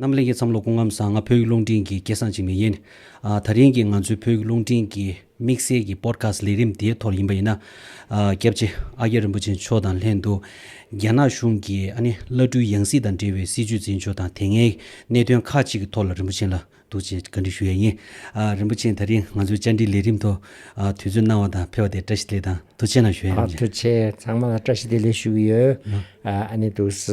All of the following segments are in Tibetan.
རྣམ་གླིང་གི་བསམ་བློ་སྐུ་ངམ་བཟང་ང་བོད་ཡིག་རླུང་འཕྲིན་གྱི་སྐལ་བཟང་ཅིག་མི་ཡིན། ད་རིང་གི་ང་ཚོའི་བོད་ཡིག་རླུང་འཕྲིན་གྱི་དམིགས་བསལ་གྱི Podcast ལས་རིམ་དེའི་ཐོག་ཡིན་པ་ཡིན་ན། སྐྱབས་རྗེ་ཨ་ཀྱཱ་རིན་པོ་ཆེ་མཆོག་དང་ལྷན་དུ། རྒྱ་ནག་གཞུང་གི་ཨ་ནི་བླ་སྤྲུལ་ཡང་སྲིད་དང་འབྲེལ་བའི་སྲིད་བྱུས་འཛིན་ཕྱོགས་དང་དེ་སྔའི་གནད་དོན་ཁག་ཅིག་གི་ཐོག་ལ་རིན་པོ་ཆེན་ལ་འདུག་ཅེས་བཀའ་འདྲི་ཞུ་ཡས་ཡིན། རིན་པོ་ཆེན་ད་རིང་ང་ཚོའི་བཅར་འདྲིའི་ལས་རིམ་ཐོག་དུས་ཚོད་གནང་བ་དང་ཕེ་བ་དེ་བཀྲ་ཤིས་ལེགས་དང་དུ་ཆེ་ན་ཞུ་ཡས་ཡིན། དུ་ཆེ་ཚང་མ་ལ་བཀྲ་ཤིས་བདེ་ལེགས་ཞུ་གི་ཡོད། ཨ་ནི་དུས་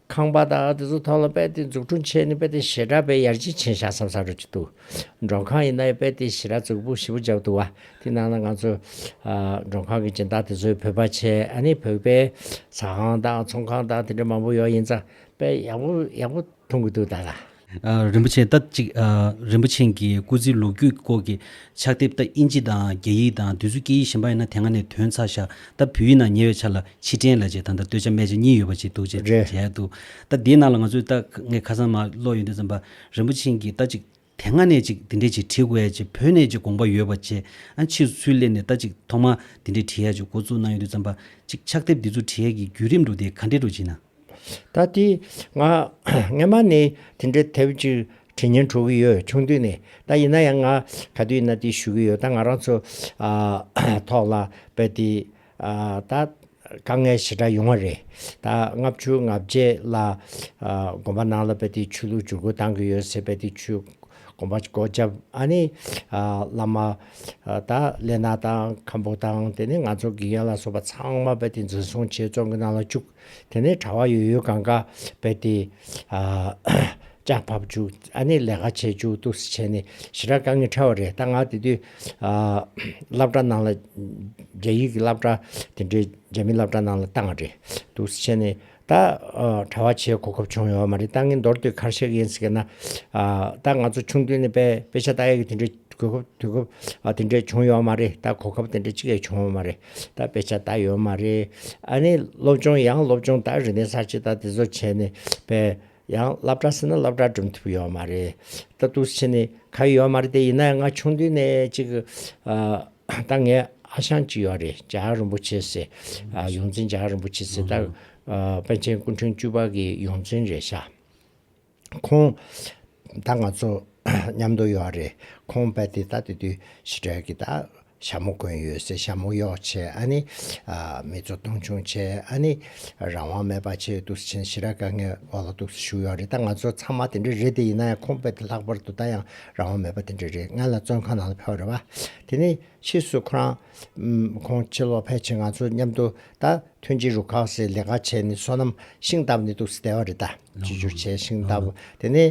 ཁང་པ་དང་དེ་ཚོ་ཐོག་ལ་དཔལ་ལྡན་འཛུགས་སྐྲུན་བྱས་ནས་དཔལ་ལྡན་ཞེ་དྲག་པའི་ཡར་སྤྱི་ཆིངས་བཞག་མཚམས་བཞག་འགྲོ་གི་འདུག་མགྲོན་ཁང་ཡིན་ན་ཡང་དཔལ་ལྡན་ཞེ་དྲག་གཙུག་ཕུད་ཞེ་པོ་འཇགས་འདུག་བ་དེ་ནང་ན་ང་ཚོ་མགྲོན་ཁང་གི་སྦྱིན་བདག་དེ་ཚོའི་བོད་པ་ཆེ་ཨ་ནི་བོད་པའི་ཟ་ཁང་དང་ཚོང་ཁང་དང་དེ་འདྲ་མང་པོ་ཡོད་ཡིན་ཙང་དཔལ་ཡག་པོ་ཡག་པོ་ཐོན་གི་འདུག་ད་ལ། རིན་པོ་ཆེ་ལྟ་གཅིག། རིན་པོ་ཆེན་གྱི་སྐུ་ཚེའི་ལོ་རྒྱུས་སྐོར་གྱི་ཕྱག་དེབ་ལྟ་དབྱིན་ཇི་དང་རྒྱ་ཡིག་དང་བདུན་བསུ་སྐད་ཡིག་གཞན་པ་ཡིན་ན་དེ་སྔ་ནས་དོན་ཚར་བཞག་ལྟ་བུ་ཡིན་ན་ཉེ་བའི་ཆ་ལ་ཕྱིར་དྲན་ལ་བྱེད་དང་ལྟ་སྟོད་ཆ་སྨད་ཆ་གཉིས་ཡོད་པ་ཅིག་འདུག་ཅེས་རེད། བྲིས་འདུག་ལྟ་དེའི་ནང་ལ་ང་ཚོས་ལྟ་ངས་ཁ་སང་མ་ཀློག་ཡོད་དུས་ཙམ་པར་རིན་པོ་ཆེན་གྱིས་ལྟ་གཅིག། དེ་སྔ་ནས་ཅིག་འདི་འདྲས་ཅིག་བྲིས་དགོས་ཡ་ཅེས་བོད་ནས་ཅིག་དགོངས་པ་ཡོད་པ་བཅས་ཨ་ཕྱིར་ཚུར་སླེབས་ནས་ལྟ་གཅིག་ཐོག་མར་འདི་འདྲས་བྲིས་ཡ་ཅེས་འགོ་བཙུགས་གནང་ཡོད་དུས་ཙམ་པར་ཅིག་ཕྱག་དེབ་འདི་ཚོ་བྲིས་ཡ་གྱི་བརྒྱུད་རིམ་འགྲོ་དེ་ག་འདྲས་འགྲོ་ཅེ་ན། ད་ལྟའི་ང་ངས་མ་ནི་དེ་འདྲའི་དེབ་གཅིག་དྲི་ཉན་འཕྲོ་གི་ཡོད་ཆུང་དུས་ནས་ད་ཡིན་ན་ཡང་ང་ག་དུས་ན་དེ་ཞུ་གི་ཡོད་ད་ང་རང་ཚོ་ཐོག་ལ་བལ་ཏི་ད་དཀའ་ངལ་ཞེ་དྲག་ཡོང་བ་རེད་ད་ལྔ་བཅུ་ལྔ་བརྒྱད་ལ་དགོན་པ་ནང་ལ་བལ་ཏི་ཆོས་ལུགས་བྱུར་བཀོད་བཏང་གི་ཡོད་ཟེར་བལ་ཏི་ཆོས་དགོན་པ་སྒོ་བརྒྱབ་ཨ་ནི་བླ་མ་ད་ལེ་ན་དང་ཁམ་པོ་དང་དེ་ནས་ང་ཚོ་དགེ་རྒན་ལ་སོགས་པ་ཚང་མ་བལ་ཏི་འཛིན་བཟུང་བྱས་བཙོང་གི་ནང་ལ་བཅུག་དེ་ནས་གྲྭ་བ་ཡོད་ཡོད་གང་ག་བས་ཏེ། ལྕགས་ཕབ་བཅུག་ཨ་ནེ་ལས་ཀ་བྱེད་བཅུག་ཏུ་བྱས་ནས་ཞི་ར་ག་ངི་ཕྲ་བ་རེད་ལྟ་ང་དེ་དུས་སླབ་གྲྭ་ནང་ལ་རྒྱ་ཡིག་གི་སླབ་གྲྭ་དེ་འདྲའི་རྒྱ་མི་སླབ་གྲྭ་ནང་ལ་ལྟ་ང་རེད་ཏུ་བྱས་ནས་ད་གྲྭ་བ་བྱེད་གོ་སྐབས་བྱུང་ཡོད་བ་མ་རེད་ལྟ་ངི་མདོར་བསྡུས་གར་ཤེག་ཡིན་ཟེར་ན། ད་ང་ཚོ་ཆུང་དུས་ནས་པེ་ཤ་ཏ་ཡིག་གི་དེ་འདྲའི་གོ་སྐབས་དུས་སྐབས་དེ་འདྲའི་བྱུང་ཡོད་བ་མ་རེད་ད་གོ་སྐབས་དེ་འདྲའི་གཅིག་ཡས་བྱུང་བ་མ་རེད། ད་དཔེ་ཆ་ད་ཡོད་མ་རེད། ཨ་ནི་སློབ་ཆུང་ཡང་སློབ་ཆུང་ད་རིག་གནས་གསར་བྱེད་ད་དེ་ཚོ་བྱས་ནས་པས་ཡང་སླབ་གྲ་ཟེར་ན་སླབ་གྲ་འགྲིམ་ཐུབ་ཡོད་མ་རེད། ད་ཏུགས་བྱེད་ནི་ག་ཡོད་མ་རེད་དེ་ཡིན་ན་ཡང་ང་ཆུང་དུས་ནས་ཅིག་ད་ངའི་ཨ་ཞང་ཅིག་ཡོད་རེད་འཇའ་ཡང་རིན་པོ་ཆེ་ཟེར། ཡོངས་འཛིན་འཇའ་ཡང་རིན་པོ་ཆེ་ཟེར་ད་པཎ་ཆེན་སྐུ་འཕྲེང་བཅུ་པ་གི་ཡོངས་འཛིན་རེད་ཤག། ཁོང་དང་ང་ཚོ་མཉམ་དུ་ཡོད་རེད། ཁོང་རྦད་དེ་ད་དེ་དུས་ཕྱི་དྲོའི་གི་ད་ཞྭ་མོ་གོན་ཡོད་སའི་ཞྭ་མོ་གཡོག་ཆེད་ཨ་ནི་མི་ཚོ་སྟོང་ཆུང་ཆེད་ཨ་ནི་རང་དབང་མེད་པ་ཆེད་དུ་ཆིན་ཞི་ར་དཀའ་ངལ་འོག་ལ་ཐུགས་སུ་བཞུགས་ཡོད་རེད་ད་ང་ཚོ་ཚང་མ་དེ་འདྲ་རེད་དེ་ཡིན་ན་ཡང་ཁོང་རྦད་དེ་ལྷག་པར་དུ་ད་ཡང་རང་དབང་མེད་པ་དེ་འདྲ་རེད་ང་ལ་བཙོན་ཁང་ནང་ལ་ཕེབས་རེད་བ། དེ་ནས་ཕྱིས་སུ་ཁོ་རང་ཁོང་ཕྱི་ལོག་ཕེབས་ཕྱིན་ང་ཚོ་མཉམ་དུ་ད་ཐོན་ཕྱི་རུ་གང་སའི་ལས་ཀ་བྱས་ནས་བསོད་ནམས་ཤིང་སྟབས་ནས་འདུག་ས་བདེ་བ་རེད་ད། བཅོས་སྒྱུར་བྱས་ཤིང་སྟབས་དེ་ནས་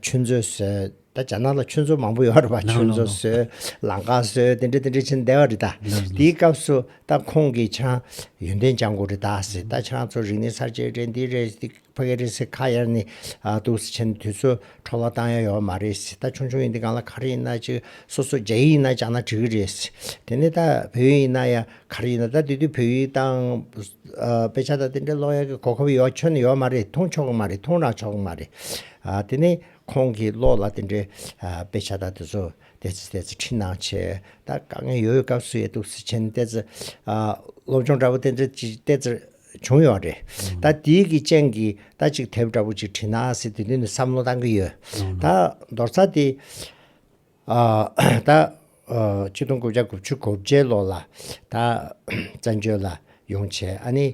ཆུ་མཛོད་བཟོས། ད་རྒྱ་ནག་ལ་ཆུ་མཛོད་མང་པོ་ཡོད་རེད་པ་ཆུ་མཛོད་བཟོས། ལང་ཀ་བཟོས་དེ་འདྲ་དེ་འདྲ་བྱས་ནས་བདེ་བ་རེད་ད། དེའི་སྐབས་སུ་ད་ཁོང་གིས་ཆང་ཡོན་ཏན་སྦྱང་དགོས་རེད་ད་ཟེར་ད་ཆང་ཚོ་རིག་གནས་གསར་བརྗེ་རེད་འདི་རེད། ཕ་གི་རེད་སེ་ཁ་ཡར་ནི་འདུག་སེ་ཆེན་དུས་ཚོད་འཕྲོ་བ་བཏང་ཡ་ཡོད་མ་རེད་སེ་ད་ཆུང་ཆུང་ཡིན་དུས་གང་ལ་ག་རེ་ཡིན་ན་ཅིག་སོ་སོ་རྒྱ་ཡིག་ཡིན་ན་སྦྱང་ན་འགྲིག་གི་རེད་སེ་དེ་ནས་ད་བོད་ཡིག་ཡིན་ན་ཡང་ག་རེ་ཡིན་ན་ད་དེ་དུས་བོད་ཡིག་དང་དཔེ་ཆ་དང་དེ་འདྲ་ཀློག་ཡ་གི་གོ་སྐབས་ཡོད་ཁྱོན་ཡོད་མ་རེད་མཐོང་ཆོག་གི་མ་རེད་མཐོང་རག་ཆོག་གི་མ་རེད་དེ་ནས་ཁོང་གིས་ཀློག་ལ་དེ་འདྲའི་དཔེ་ཆ་དང་དེ་ཚོ་བལྟས་ཚེ་བལྟས་ཚེ་འཕྲིན་ནང་ཆེ་ད་དཀའ་ངལ་ཡོད་ཡོད་སྐབས་སུ་ཡོད་འདུག་སེ་ཆེན་བལྟས་ཚེ་སློབ་སྦྱོང་འདྲ་པོ་དེ་འདྲ་བལྟས་ཚེ། བྱུང་ཡོད་རེད། ད་དེའི་གི་སྤྱན་གི་ད་གཅིག་དེབ་འདྲ་པོ་གཅིག་བྲིས་ན་སི་དེ་དོན་དུ་བསམ་བློ་བཏང་གི་ཡོད། ད་མདོར་ཚ་དེ། ད། བཅུ་སྟོང་དགུ་བརྒྱ་དགུ་བཅུ་གོ་བརྒྱད་ལོ་ལ། ད། བཙན་བྱོལ་ལ་ཡོང་བྱས་ཨ་ནི།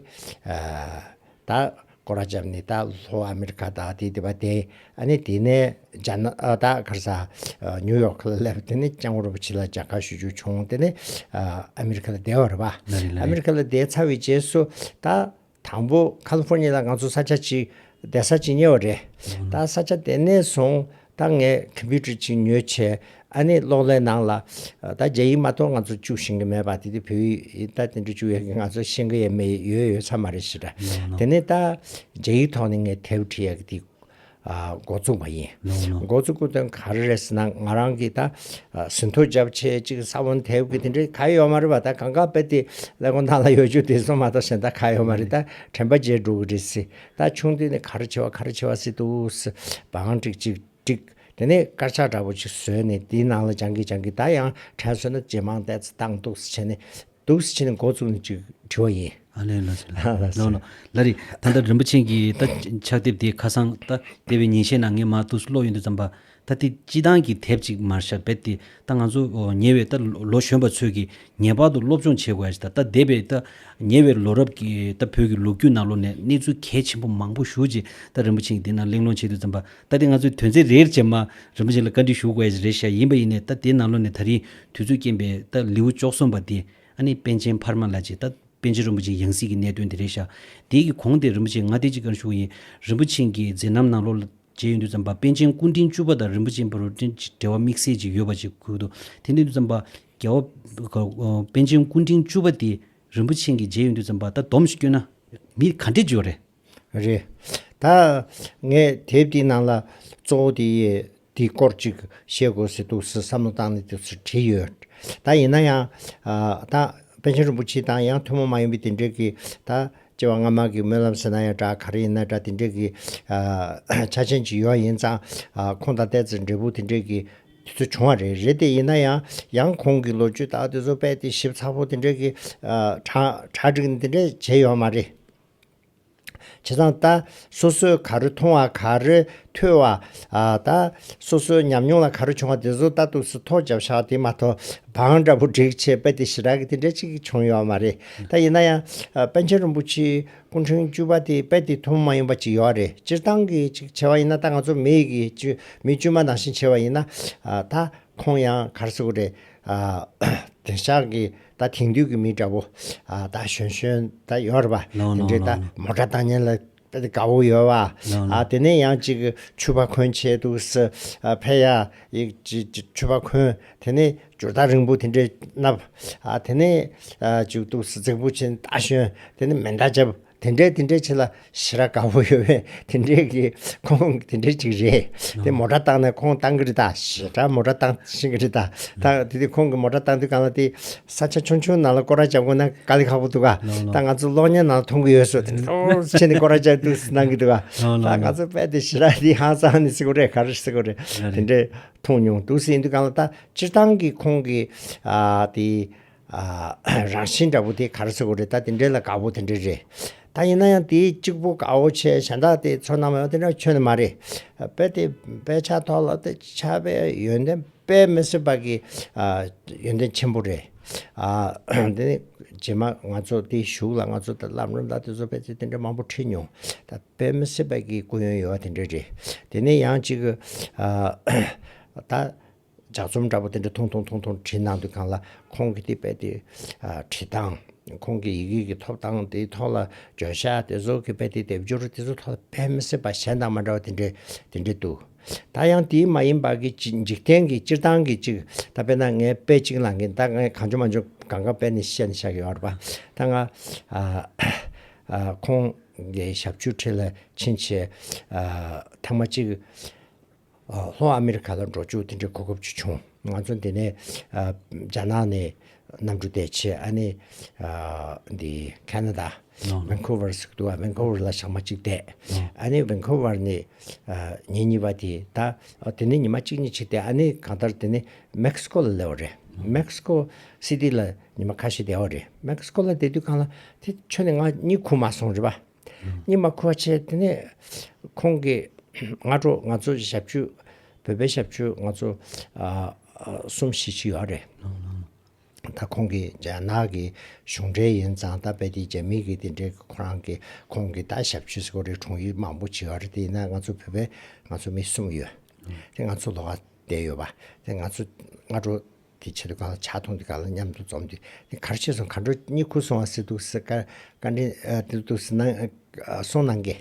ད། སྒོ་ར་བརྒྱབ་ནི་ད་ལྷོ་ཨ་མི་རི་ཀ་དང་དེ་དེ་བ་དེ་ཨ་ནི་དེ་ནས་ཇ་ན་ཏཱ་གྷར་ས་ནིའུ་ཡོག་ཁ་ལ་སླེབས་དེ་ནས་ལྕང་སྐོར་བ་ཕྱི་ལ་རྒྱ་གར་ཞུ་རྒྱུ་བྱུང་དེ་ནས་ཨ་མི་རི་ཁ་ལ་བསྡད་བར་བ། ལ་རེ་ལ་རེ། ཨ་མི་རི་ཁ་ལ་བསྡད་ཚར་བའི་རྗེས་སུ་ད་དང་པོ་ཁ་ལི་ཕོར་ཉི་ལ་ང་ཚོ་ས་ཆ་གཅིག་བསྡད་ས་གཅིག་ཉེ་བ་རེད་ད་ས་ཆ་དེ་ནས་བཟུང་ད་ངས་ཁམ་པུའུ་ཏར་གཅིག་ཉོས་བྱས་ཨ་ནི་གློག་ཀླད་ནང་ལ་ད་རྒྱ་ཡིག་མ་གཏོགས་ང་ཚོ་བཅུག་ཤིང་གི་མེད་པ་དེ་དུས་བོད་ཡིག་ད་དེ་འདྲ་བཅུག་ཡོད་ཀི་ང་ཚོ་ཤེས་ཀི་ཡ་མེད་ཡོད་ཡོད་ཚ་མ་རེད་ཞེས་དྲ་དེ་ནས་ད་རྒྱ་ཡིག་ཐོག་ནས་ངས་དེབ་བྲིས་ཡ་གི་དེ་འགོ་བཙུགས་པ་ཡིན། འགོ་བཙུགས་སྐུ་དོན་ག་རེ་རེད་ཟེར་ན་ང་རང་གིས་ད་ཟིན་ཐོ་འཇབ་ཆེད་ཅིག་ས་བོན་དེབ་གི་དེ་འདྲའི་ག་ཡོད་མ་རེད་པ་ད་གང་ག་དཔེ་དེ་ཀླད་ཀོང་ཐང་ལ་ཡོད་རྒྱུ་དེ་སོང་མ་གཏོགས་གཞན་ད་ག་ཡོད་མ་རེད་ད་དྲན་པ་བརྗེད་འགྲོ་གི་རེད་སྲིད་ད་ཆུང་དུས་ནས་ག་རེ་བྱས་བ་ག་རེ་བྱས་བ་སྲིད་དུ་བའང་ཅིག་ཅིག་ཅིག་དེ་ནས་དཀར་ཆག་འདྲ་པོ་ཅིག་བཟོས་ནས་དེའི་ནང་ལ་སྦྱང་གི་སྦྱང་གི་ད་ཡང་དྲན་སོང་ན་ཇེ་མང་བལྟས་ཚེ་སྟངས་སྡུག་སེ་བྱས་ནས་སྡུག་ཟེར་བྱས་ནས་འགོ་བཙུགས་ནས་ཅིག་བྲིས་བ་ཡིན། ཨ་ལས་ལ་ཟེར། ཨ་ལ་ཟེར། ལ་རེ། ད་ལྟ་རིན་པོ་ཆེན་གྱི་ད་ཕྱག་དེབ་དེ་ཁ་སང་ད་ལྟེ་བའི་ཉིན་ཤས་ནང་ངས་མ་གཏུགས་སུ་ཀློག་ཡོད་འདུག་བརྩམས་པ། ད་དེ་སྤྱི་བཏང་གི་དེབ་ཅིག་མར་ཤར་བེད་དེ་ད་ང་ཚོ་ཉེ་བའི་ད་ལོ་གཞོན་པ་ཚོས་ཀྱིས་ངེས་པར་དུ་སློབ་སྦྱོང་བྱེད་དགོས་ཡ་ཅིག་ད་ད་འདས་པའི་ད་ཉེ་བའི་ལོ་རབས་ཀྱི་ད་བོད་ཀྱི་ལོ་རྒྱུས་ནང་ལོ་ནས་གནས་ཚུལ་གལ་ཆེན་པོ་མང་པོ་ཞུ་ཅིག་ད་རིན་པོ་ཆེན་གྱི་དེ་ནང་གླེང་སློང་བྱེད་འདུག་བརྩམས་པ། ད་དེ་ང་ཚོས་དོན་ཚན་རེར་རྗེས་མ་རིན་པོ་ཆེན་ལ་བཀའ་འདྲི་ཞུ་དགོས་ཡ་ཅིག་རེད་བཤད་ཡིན་པ་ཡིན་ནས་ད་དེ་ནང་ལོ་ནས་ད་རིང་དུས་ཚོད་སྐྱེན་པའི་ད་ལེའུ་བཅོ་གསུམ་པ་འདི་ཨ་ནེ་པན་ཆེན་འཕར་མ་ལ་བྱས་ད་པན་ཆེན་རིན་པོ་ཆེའི་ཡང་སྲིད་ཀྱི་གནད་དོན་དེ་རེད་ཤག་དེའི་གི་གོང་དེ་རིན་པོ་ཆེ་ང་དེ་ཅིག་ཀར་ཞུགས་ཡིན་རིན་པོ་ཆེན་གྱི་མཛད་རྣམ་ནང་ལོ་ལ་བརྒྱད་ཡོད་འདུག་ཙམ་པ་པན་ཆེན་སྐུ་འཕྲེང་བཅུ་པ་དང་རིན་པོ་ཆེན་བུ་རུ་ཏྲེན་ཅིག་འབྲེལ་བ་དམིགས་བསལ་ཅིག་ཡོད་པ་ཅིག་གུས་འདུག་དེ་འདི་འདུག་ཙམ་པ་རྒྱལ་བ་པན་ཆེན་སྐུ་འཕྲེང་བཅུ་པ་དེ་རིན་པོ་ཆེན་གྱི་མཇལ་ཡོད་འདུག་ཙམ་པ་ད་སྡོམ་ཞིག་བསྐྱོན་ན་མི་ག་འདྲས་འཇོག་རེད། རེད། ད། ངས་དེབ་དེའི་ནང་ལ། གཙོ་བོ་དེ། དེའི་སྐོར་ཅིག་བཤད་དགོས་ཟེར་འདུག་ཟེར་བསམ་བློ་བཏང་ནས་དེ་ཚོ་བྲིས་ཡོད། ད་ཡིན་ན་ཡང། ད། པཎ་ཆེན་རིན་པོ་ཆེ་དང་ཡང་ཐུན་མོང་མ་ཡིན་པའི་དེ་འབྲེལ་གྱི། ད། སྐྱེ་བ་སྔ་མ་གི་སྨོན་ལམ་ཟེར་ན་ཡང་འདྲ་ག་རེ་ཡིན་ན་འདྲ་དེ་འབྲེལ་གྱི། ཆ་ཅན་ཅིག་ཡོད་ཡིན་ཙང། ཁོང་དང་བལྟས་ཚེ་འབྲས་བུ་དེ་འབྲེལ་གྱི། དེ་ཚོ་བྱུང་བ་རེད། རེད་དེ་ཡིན་ན་ཡང། ཡང་ཁོང་གི་ལོ་རྒྱུས་དག་དེ་ཚོ་དཔེ་དེ་ཞིབ་ཚགས་པོ་དེ་འབྲེལ་གྱི། གྲ། གྲ་སྒྲིག་ནས་དེ་འདྲས་བྱས་ཡོད་མ་རེད། བྱས་ཙང་ད། སོ་སོས་ག་རེ་མཐོང་བ་ག་རེ་ཐོས་བ། ད། སོ་སོའི་ཉམས་མྱོང་ལ་ག་རེ་བྱུང་བ་དེ་ཚོ་ལྟ་ཐུགས་སུ་ཐོག་བརྒྱབ་ཤག་དེ་མ་གཏོགས། བང་འདྲ་པོ་བསྒྲིགས་བྱས་དཔེ་དེ་ཞེ་དྲག་གི་དེ་འདྲ་གཅིག་གིས་བྱུང་ཡོད་མ་རེད་ད། ཡིན་ན་ཡང། པཎ་ཆེན་རིན་པོ་ཆེའི་སྐུ་འཕྲེང་བཅུ་པ་དེའི་དཔེ་དེ་ཐུང་མ་ཡིན་པ་ཅིག་ཡོད་རེད་སྤྱིར་བཏང་གི་ཅིག་བྱས་བ་ཡིན་ན་ད་ང་ཚོ་མི་ཡི་གི་བཅུ་མི་བཅུ་མ་ནང་བཞིན་བྱས་བ་ཡིན་ན། ད། ཁོང་ཡང་གར་སོང་གི་རེད། དེ་ཤག་གི། ད་དེང་དུས་ཀྱི་མི་འདྲ་བོ། ད་གཞོན་གཞོན་ད་ཡོད་རེད་པ། དེ་འདྲའི་ད་མོ་དྲ་ལྟ་ཉན་ལ་དཔེ་དེ་དགའ་བོ་ཡོད་བ། ཨ་དེ་ནས་ཡང་ཅིག་ཆུ་བ་འཁོན་བྱས་འདུག་ས་ཕེ་ཡ་ཡིག་ཆུ་བ་འཁོན་དེ་ནས་ཇུར་ཐག་རིང་པོ་དེ་འདྲའི་མནབས། ཨ་དེ་ནས་ཅིག་འདུག་ས་རྫིག་པོ་ཆེ་ད་གཞོན་དེ་ནས་མེ་མདའ་བརྒྱབ། དེ་འདྲའི་དེ་འདྲའི་ཆེ་ལ་ཞེ་ར་དགའ་བོ་ཡོད་པའི་དེ་འདྲའི་གི་ཁོང་དེ་འདྲའི་ཅིག་རེད་དེ་མོ་ཏྲ་བཏང་ནས་ཁོང་བཏང་གི་རེད་ད་ཞེ་དྲ་མོ་ཏྲ་བཏང་བཞིན་གི་རེད་ད་ད་དེ་དེ་ཁོང་གི་མོ་ཏྲ་བཏང་དུས་གང་ལ་དེ་ས་ཆ་ཆུང་ཆུང་ནང་ལ་སྐོར་ར་བྱབ་དགོས་ན་དཀའ་ལས་ཁག་པོ་འདུག་ག་ད་ང་ཚོ་གློག་བརྙན་ནང་ལ་མཐོང་གི་ཡོད་སུ་ཁྱེད་ནི་སྐོར་ར་བྱབ་དུས་སུ་གནང་གི་འདུག་ག་ད་ང་ཚོ་དཔལ་དེ་ཞེ་ར་དེ་ཧང་སང་ནི་སེ་གོ་རེད་ག་རེ་སེ་གོ་རེད་དེ་འདྲའི་མཐོང་མྱོང་འདུག་སེ་ཡིན་དུས་གང་ལ་ད་སྤྱིར་བཏང་གི་ཁོང་གི་དེ་ཨ། རང་བཞིན་འདྲ་པོ་དེ་གར་སོགས་རེད་ད་དེ་འདྲའི་ལ་དགའ་པོ་དེ་འདྲའི་རེད། ད་ཡིན་ན་ཡང་དེའི་གཅིག་པོ་དགའ་བོ་ཆེ་གཞན་དག་དེ་ཚོ་རྣམས་ཡང་དེ་འདྲ་ཁྱོད་ནི་མ་རེད། དཔེ་དེ་དཔེ་ཆ་ཐོག་ལ་དེ་ཆ་དཔེ་ཡོན་ཏན་དཔེ་མི་སྲིད་པ་གི་ཡོན་ཏན་ཆེན་པོ་རེད། ཨ། དེ་ནི་རྗེས་མ་ང་ཚོ་དེ་བཞུགས་ལ་ང་ཚོ་ད་ལམ་རིམ་དག་དེ་ཚོ་དཔེ་ཆ་དེ་འདྲ་མང་པོ་ཁྲིད་མྱོང། ད་དཔེ་མི་སྲིད་པ་གི་སྐུ་ཡོན་ཡོད་བ་དེ་འདྲའི་རེད། དེ་ནི་ཡང་གཅིག་གི། ད་ལྗགས་རྩོམ་འདྲ་པོ་དེ་འདྲ་ཐུང་ཐུང་ཐུང་ཐུང་བྲིས་གནང་དུས་གང་ལ་ཁོང་གིས་དེ་རྦད་དེ་བྲིས་སྟངས། ཁོང་གི་ཡི་གེ་ཀྱི་ཐོབ་སྟངས་དེའི་ཐོག་ལ་བརྗོད་བྱ་དེ་ཚོ་གི་རྦད་དེ་སྡེབ་སྦྱོར་དེ་ཚོའི་ཐོག་ལ་ཕན་མི་སྲིད་པ་གཞན་དང་མ་འདྲ་བ་དེ་འདྲའི་དེ་འདྲའི་འདུག་ད་ཡང་དེའི་མ་ཡིན་པ་གི་འཇིག་རྟེན་གྱི་སྤྱིར་བཏང་གི་ཅིག་ད་དཔེར་ན་ངས་དཔེ་ཅིག་གནང་གིན་ད་ངས་གང་བྱུང་མ་བྱུང་གང་གང་དཔེ་ནས་བཤད་ནས་བཞག་གི་ཡོད་རེད་པ་ད་ང་ཁོང་གི་ཞབས་ཆུ་ཁྲི་ལ་ཕྱིན་ཆེད་ཐེངས་མ་གཅིག་ལྷོ་ཨ་མེ་རི་ཁ་ལ་འགྲོ་ཆུག་དེ་འདྲའི་གོ་སྐབས་ཅིག་བྱུང། ང་ཚོ་འདི་ནས་རྒྱ་ནག་ནས་གནམ་གྲུ་བསྡད་ཆེད་ཨ་ནེ་འདི Canada Vancouver ཟིག་འདུག Vancouver ལ་ཞག་མ་གཅིག་བསྡད། ཨ་ནེ Vancouver ནས་ཉིན་གཉིས་པ་དེ་ད་དེ་ནས་ཉི་མ་གཅིག་གཉིས་བྱས་ཏེ་ཨ་ནེ་གང་ལྟར་དེ་ནས Mexico ལ་སླེབས་བ་རེད། Mexico City ལ་ཉི་མ་ཁ་ཤས་བསྡད་བ་རེད། Mexico ལ་བསྡད་དུས་གང་ལ་དེ་ཆོད་ནས་ང་གཉིད་ཁུག་མ་སོང་རེད་པ། ཉི་མ་ཁོ་ཆེ་དེ་ནས་ཁོང་གིས་སྔ་དྲོ་ང་ཚོ་ཞབས་ཕྱི་བོད་པའི་ཞབས་ཕྱི་ང་ཚོ་གསུམ་བཞི་ཅིག་ཡོད་རེད། ད་ཁོང་གི་རྒྱ་ནག་གི་གཞུང་འབྲེལ་ཡིན་ཙང་ད་དཔེ་དེ་རྒྱ་མི་གི་དེ་འདྲའི་ཁོ་རང་གི་ཁོང་གི་ད་ཞབས་ཕྱི་སྐོར་རེ་དྲུང་ཡིག་མང་པོ་བྱེད་ཡོད་རེད་དེ་ཡིན་ན་ང་ཚོ་བོད་པའི་ང་ཚོ་མི་གསུམ་ཡོད། དེ་ང་ཚོ་ལོགས་བསྡད་ཡོད་པ་དེ་ང་ཚོ་སྔ་དྲོ། དེ་ཕྱིར་གང་ལ་ཆ་མཐོང་དེ་གང་ལ་མཉམ་དུ་འཛོམས་ཏེ་དེ་གར་ཆས་སོང་མཁའ་འགྲོ་གཉིས་ཁུར་སོང་བ་སྲིད་དུ་སྲིད་དཀར་དཀར་འདྲེན་དེ་དུ་སྲིད་ནང་སོང་ནང་གི།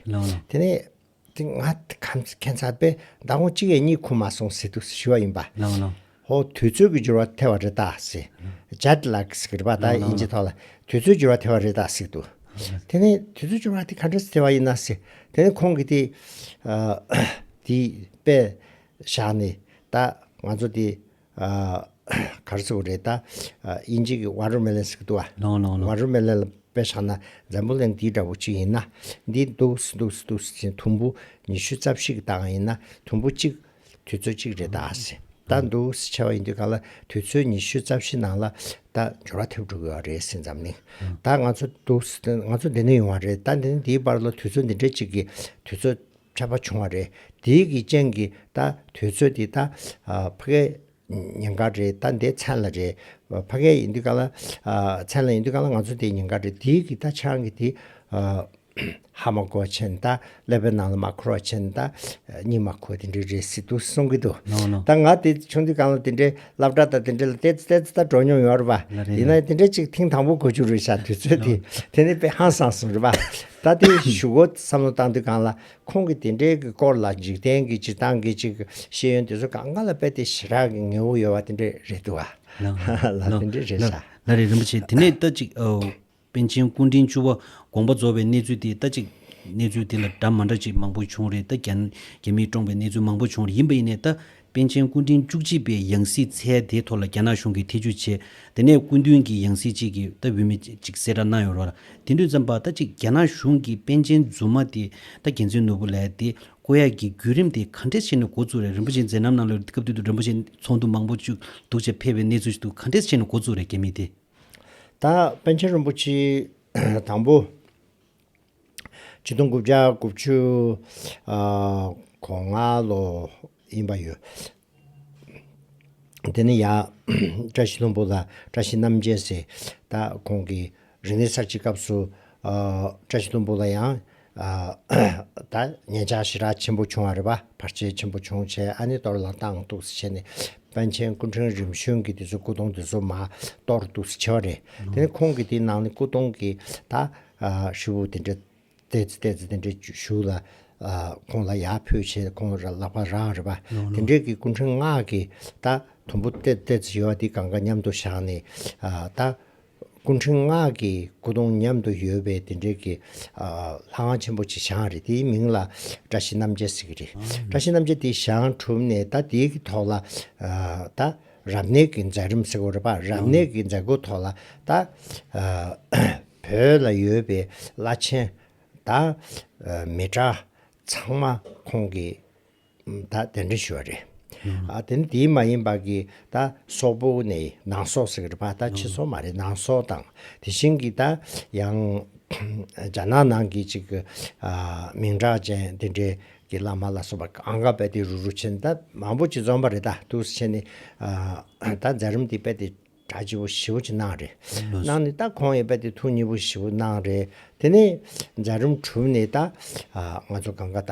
དེ་ནས་དེ་ང་ཁམས་སུ་ཁྱད་མཚར་པས་ཟླ་ངོ་གཅིག་ཡས་གཉིས་ཁུར་མ་སོང་སྲིད་དུ་ཞི་བ་ཡིན་པ། ཧོ་དུས་ཚོད་ཀྱི་འགྱུར་བ་ཐལ་བ་རེད་ད་སྲིད། ཇཱ་དི་ལ་ཀིས་ཀྱི་རིག་པ་དག་དབྱིན་ཇིའི་ཐོག་ལ་དུས་ཚོད་འགྱུར་བ་ཐལ་བ་རེད་ད་སྲིད་དུ། དེ་ནས་དུས་ཚོད་འགྱུར་བ་དེ་ག་འདྲ་ཐལ་བ་ཡིན་ན་སྲིད། དེ་ནས་ཁོང་གིས་དེ་དེའི་དཔེ་བཞག་ནས་ད་ང་ཚོ་དེ། གར་ཚོགས་རེད་ད། དབྱིན་ཇི་གི་བྷ་རོ་མེ་ལན་ཟེར་གི་འདུག་བ། ལོང་ལོང་ལོང། བྷ་རོ་མེ་ལན་ལ་དཔེ་ཆགས་ན་འཛམ་བུ་གླིང་འདི་འདྲ་བོ་གཅིག་ཡིན་ན། འདི་འདུག་སི་འདུག་སི་འདུག་སི་ཅན་དུམ་བུ་ཉི་ཤུ་རྩ་བཞི་གི་སྟག་འང་ཡིན་ན་དུམ་བུ་གཅིག། དུས་ཚོད་གཅིག་རེད་ད་སི། ད་འདུག་སི་ཆེ་བ་ཡིན་དུས་གང་ལ་དུས་ཚོད་ཉི་ཤུ་རྩ་བཞི་ནང་ལ་ད་འབྱོར་བ་ཐེབས་འགྲོ་གི་བ་རེད་སི་འཛམ་གླིང། ད་ང་ཚོ་འདུག་སི་ང་ཚོ་འདི་ནས་ཡོང་བ་རེད་ད་འདི་ནས་འདིའི་བར་ལ་དུས་ཚོད་འདི་འདྲའི་གཅིག་གི་དུས་ཚོད། འཕྲད་པ་བྱུང་བ་རེད། དེའི་གི་རྐྱེན་གི་ད་དུས་ཚོད་དེ་ད་ཕ་གའི་ཉིན་འགར་རེད་ད་འདི་མཚན་ལ་རེད། ཕ་གའི་ཡིན་དུས་ག་ལ་མཚན་ལ་ཡིན་དུས་ག་ལ་ང་ཚོ་འདི་ཉིན་འགར་རེད་དེའི་གི་ད་ཆང་གི་དེ་ཧ་མ་གོ་ཆེན་ད་ཀླད་པའི་ནང་ལ་མ་འཁོར་བ་ཆེན་ད་སྙིང་མ་འཁོར་དེ་འདྲའི་རེད་སྲིད་དུ་གསུང་གི་འདུག་ད་ང་དེ་བྱུང་དུས་གང་ལ་དེ་འདྲའི་ལབ་སྒྲ་ད་དེ་འདྲའི་ལ་ཏེ་ཙེ་ཏེ་ད་འགྲོ་མྱོང་ཡོང་རེད་པ། ཡིན་ན་དེ་འདྲའི་ཅིག་ཐེངས་དང་པོ་གོ་རྒྱུ་རེད་བྱ་དུས་ཚོད་དེ་དེ་ནི་དཔེ་ཧང་སངས་སོང་རེད་པ། ད་ལྟའི་བཞུགས་སྒོ་བསམ་བློ་བཏང་དུས་གང་ལ་ཁོང་གི་དེ་འབྲེལ་གྱི་སྐོར་ལ་འཇིག་རྟེན་གྱི་སྤྱིར་བཏང་གི་ཅིག་ཤེས་ཡོན་དེ་ཚོ་གང་གང་ལ་དཔེ་དེ་ཞེ་དྲག་གི་ངེས་བོ་ཡོད་བ་དེ་འདྲས་རེད་འདུག་ལ་དེ་འདྲས་རེད་ས། ལ་རེ་རིན་པོ་ཆེ་དེ་ནས་ལྟ་ཅིག། པཎ་ཆེན་སྐུ་འཕྲེང་བཅུ་བ་དགོངས་པ་རྫོགས་པའི་གནས་ཚུལ་དེ་ལྟ་ཅིག། གནས་ཚུལ་དེ་ལ་སྒྲ་མ་འདྲ་ཅིག་མང་པོ་བྱུང་རེད་ལྟ་རྒྱ་མིས་སྤྲོངས་པའི་གནས་ཚུལ་མང་པོ་བྱུང་རེད་ཡིན་པ་ཡིན་ནས་ལྟ་པཎ་ཆེན་སྐུ་ཕྲེང་བཅུ་གཅིག་པའི་ཡང་སྲིད་ཚལ་དེའི་ཐོག་ལ་རྒྱ་ནག་གཞུང་གིས་ཐེ་ཇུས་བྱས། དེ་ནས་སྐུ་མདུན་གྱིས་ཡང་སྲིད་ཅིག་གི་སྟབས་འོས་མི་གཅིག་གསལ་བསྒྲགས་གནང་ཡོད་རོགས། དེ་དུས་ཙམ་པར་ད་ཅིག་རྒྱ་ནག་གཞུང་གིས་པཎ་ཆེན་རྫུན་མ་དེ་ད་རྒྱལ་མཚན་ནོར་བུ་ལས་དེ་བཀོད་ཡག་གི་བརྒྱུད་རིམ་དེ་ག་འདྲས་ཆེ་ནས་འགོ་བཙུགས་རེད་རིན་པོ་ཆེ་མཛད་རྣམ་གནང་ལོ་རེད་དེ་སྐབས་དུས་དུ་རིན་པོ་ཆེ་ཚོགས་འདུ་མང་པོ་བཅུག་འདུག་ཅེས་ཕེབས་པའི་གནས་ཚུལ་ཞིག་འདུག་ག་འདྲས་ཆེ་ནས་འགོ་བཙུགས་རེད་རྒྱ་མི་དེ། ད་པཎ་ཆེན་རིན་པོ་ཆེ་དང་པོ། ཆིག་སྟོང་དགུ་བརྒྱ་དགུ་བཅུ་གོ་ལྔ་ལོ་ཡིན་པ་ཡོད། དེ་ནི་ཡང་བཀྲ་ཤིས་ལྷུན་པོ་དང་བཀྲ་ཤིས་རྣམ་རྒྱལ་སྲས་དག་ཁོང་གི་རིག་གནས་གསར་བརྗེའི་སྐབས་སུ་བཀྲ་ཤིས་ལྷུན་པོ་ལ་ཡང་དག་ངན་ཆགས་ཤི་རགས་ཆེན་པོ་བྱུང་བ་རེད་པ་བར་ཆད་ཆེན་པོ་བྱུང་བྱས་ཨ་ནི་གཏོར་ལ་བཏང་འདུག་སེ་བྱས་ནས་པཎ་ཆེན་སྐུ་ཕྲེང་རིམ་བྱོན་གྱི་དེ་ཚོའི་སྐུ་གདུང་དེ་ཚོ་མ་གཏོར་འདུག་སེ་བྱས་པ་རེད་དེ་ནི་ཁོང་གི་དེའི་ནང་ནས་སྐུ་གདུང་གི་ད་ཧྲིལ་བོ་དེ་འདྲའི་ལྟས་ཙི་ལྟས་ཙི་དེ་འདྲའི་བཞུགས་ལ། ཁོང་ལ་ཡར་ཕུད་ཕྱིར་ཁོང་ར་ལག་པ་རང་རེད་པ། དེ་འདྲའི་གི་སྐུ་འཕྲེང་སྔགས་ཀྱི་ད་དུམ་བུ་ལྟས་ལྟས་ཙི་ཡོད་དེ་གང་ག་མཉམ་དུ་བཞག་ནས། ད་སྐུ་འཕྲེང་སྔགས་ཀྱི་སྐུ་གདུང་མཉམ་དུ་ཡོད་པའི་དེ་འདྲའི་གི། ལྷ་ཁང་ཆེན་པོ་ཆེ་ཞང་རེད་དེའི་མིང་ལ་བཀྲ་ཤིས་རྣམ་རྒྱལ་ཟེར་གི་རེད། བཀྲ་ཤིས་རྣམ་རྒྱལ་དེ་ཞང་གྲུབ་ནས་ད་དེའི་གི་ཐོག་ལ། ད་རབ་གནས་གི་མཛད་རིམ་ཟེར་གོ་རེད་པ་རབ་གནས་གི་མཛད་སྒོའི་ཐོག་ལ་ད། བོད་ལ་ཡོད་པའི་བླ་ཆེན་དང་མི་དྲག་ཚང་མ་ཁོང་གིས་ད་གདན་འདྲེན་ཞུས་པ་རེད། དེ་ནི་དེའི་མ་ཡིན་པར་གི་ད་སོག་པོ་ནས་ནང་སོག་ཟེར་གི་རེད་པ་ད་ཕྱི་སོག་མ་རེད་ནང་སོག་དང་དེ་བཞིན་གི་ད་ཡང་རྒྱ་ནག་ནང་གི་ཅིག་གི་མིང་གྲགས་ཅན་དེ་འདྲའི་གི་བླ་མ་ལ་སོགས་པ་གང་ག་དཔེ་དེ་རུ་རུ་ཆེན་ད་མང་པོ་ཅིག་འཛོམས་པ་རེད་ད་ཐུགས་སུ་ཆེ་ནི་ད་འཛའ་རིམ་དེ་དཔེ་དེ། ད་སྤྱི་བོ་བཞི་བོ་ཅི་གནང་རེད། གནང་ནས་ད་གོང་ཡས་པད་དེ་ཐུགས་གཉིས་པོ་བཞི་བོ་གནང་རེད། དེ་ནས་རྫ་རུམ་གྲུབ་ནས་ད་ང་ཚོ་གང་ག་ད་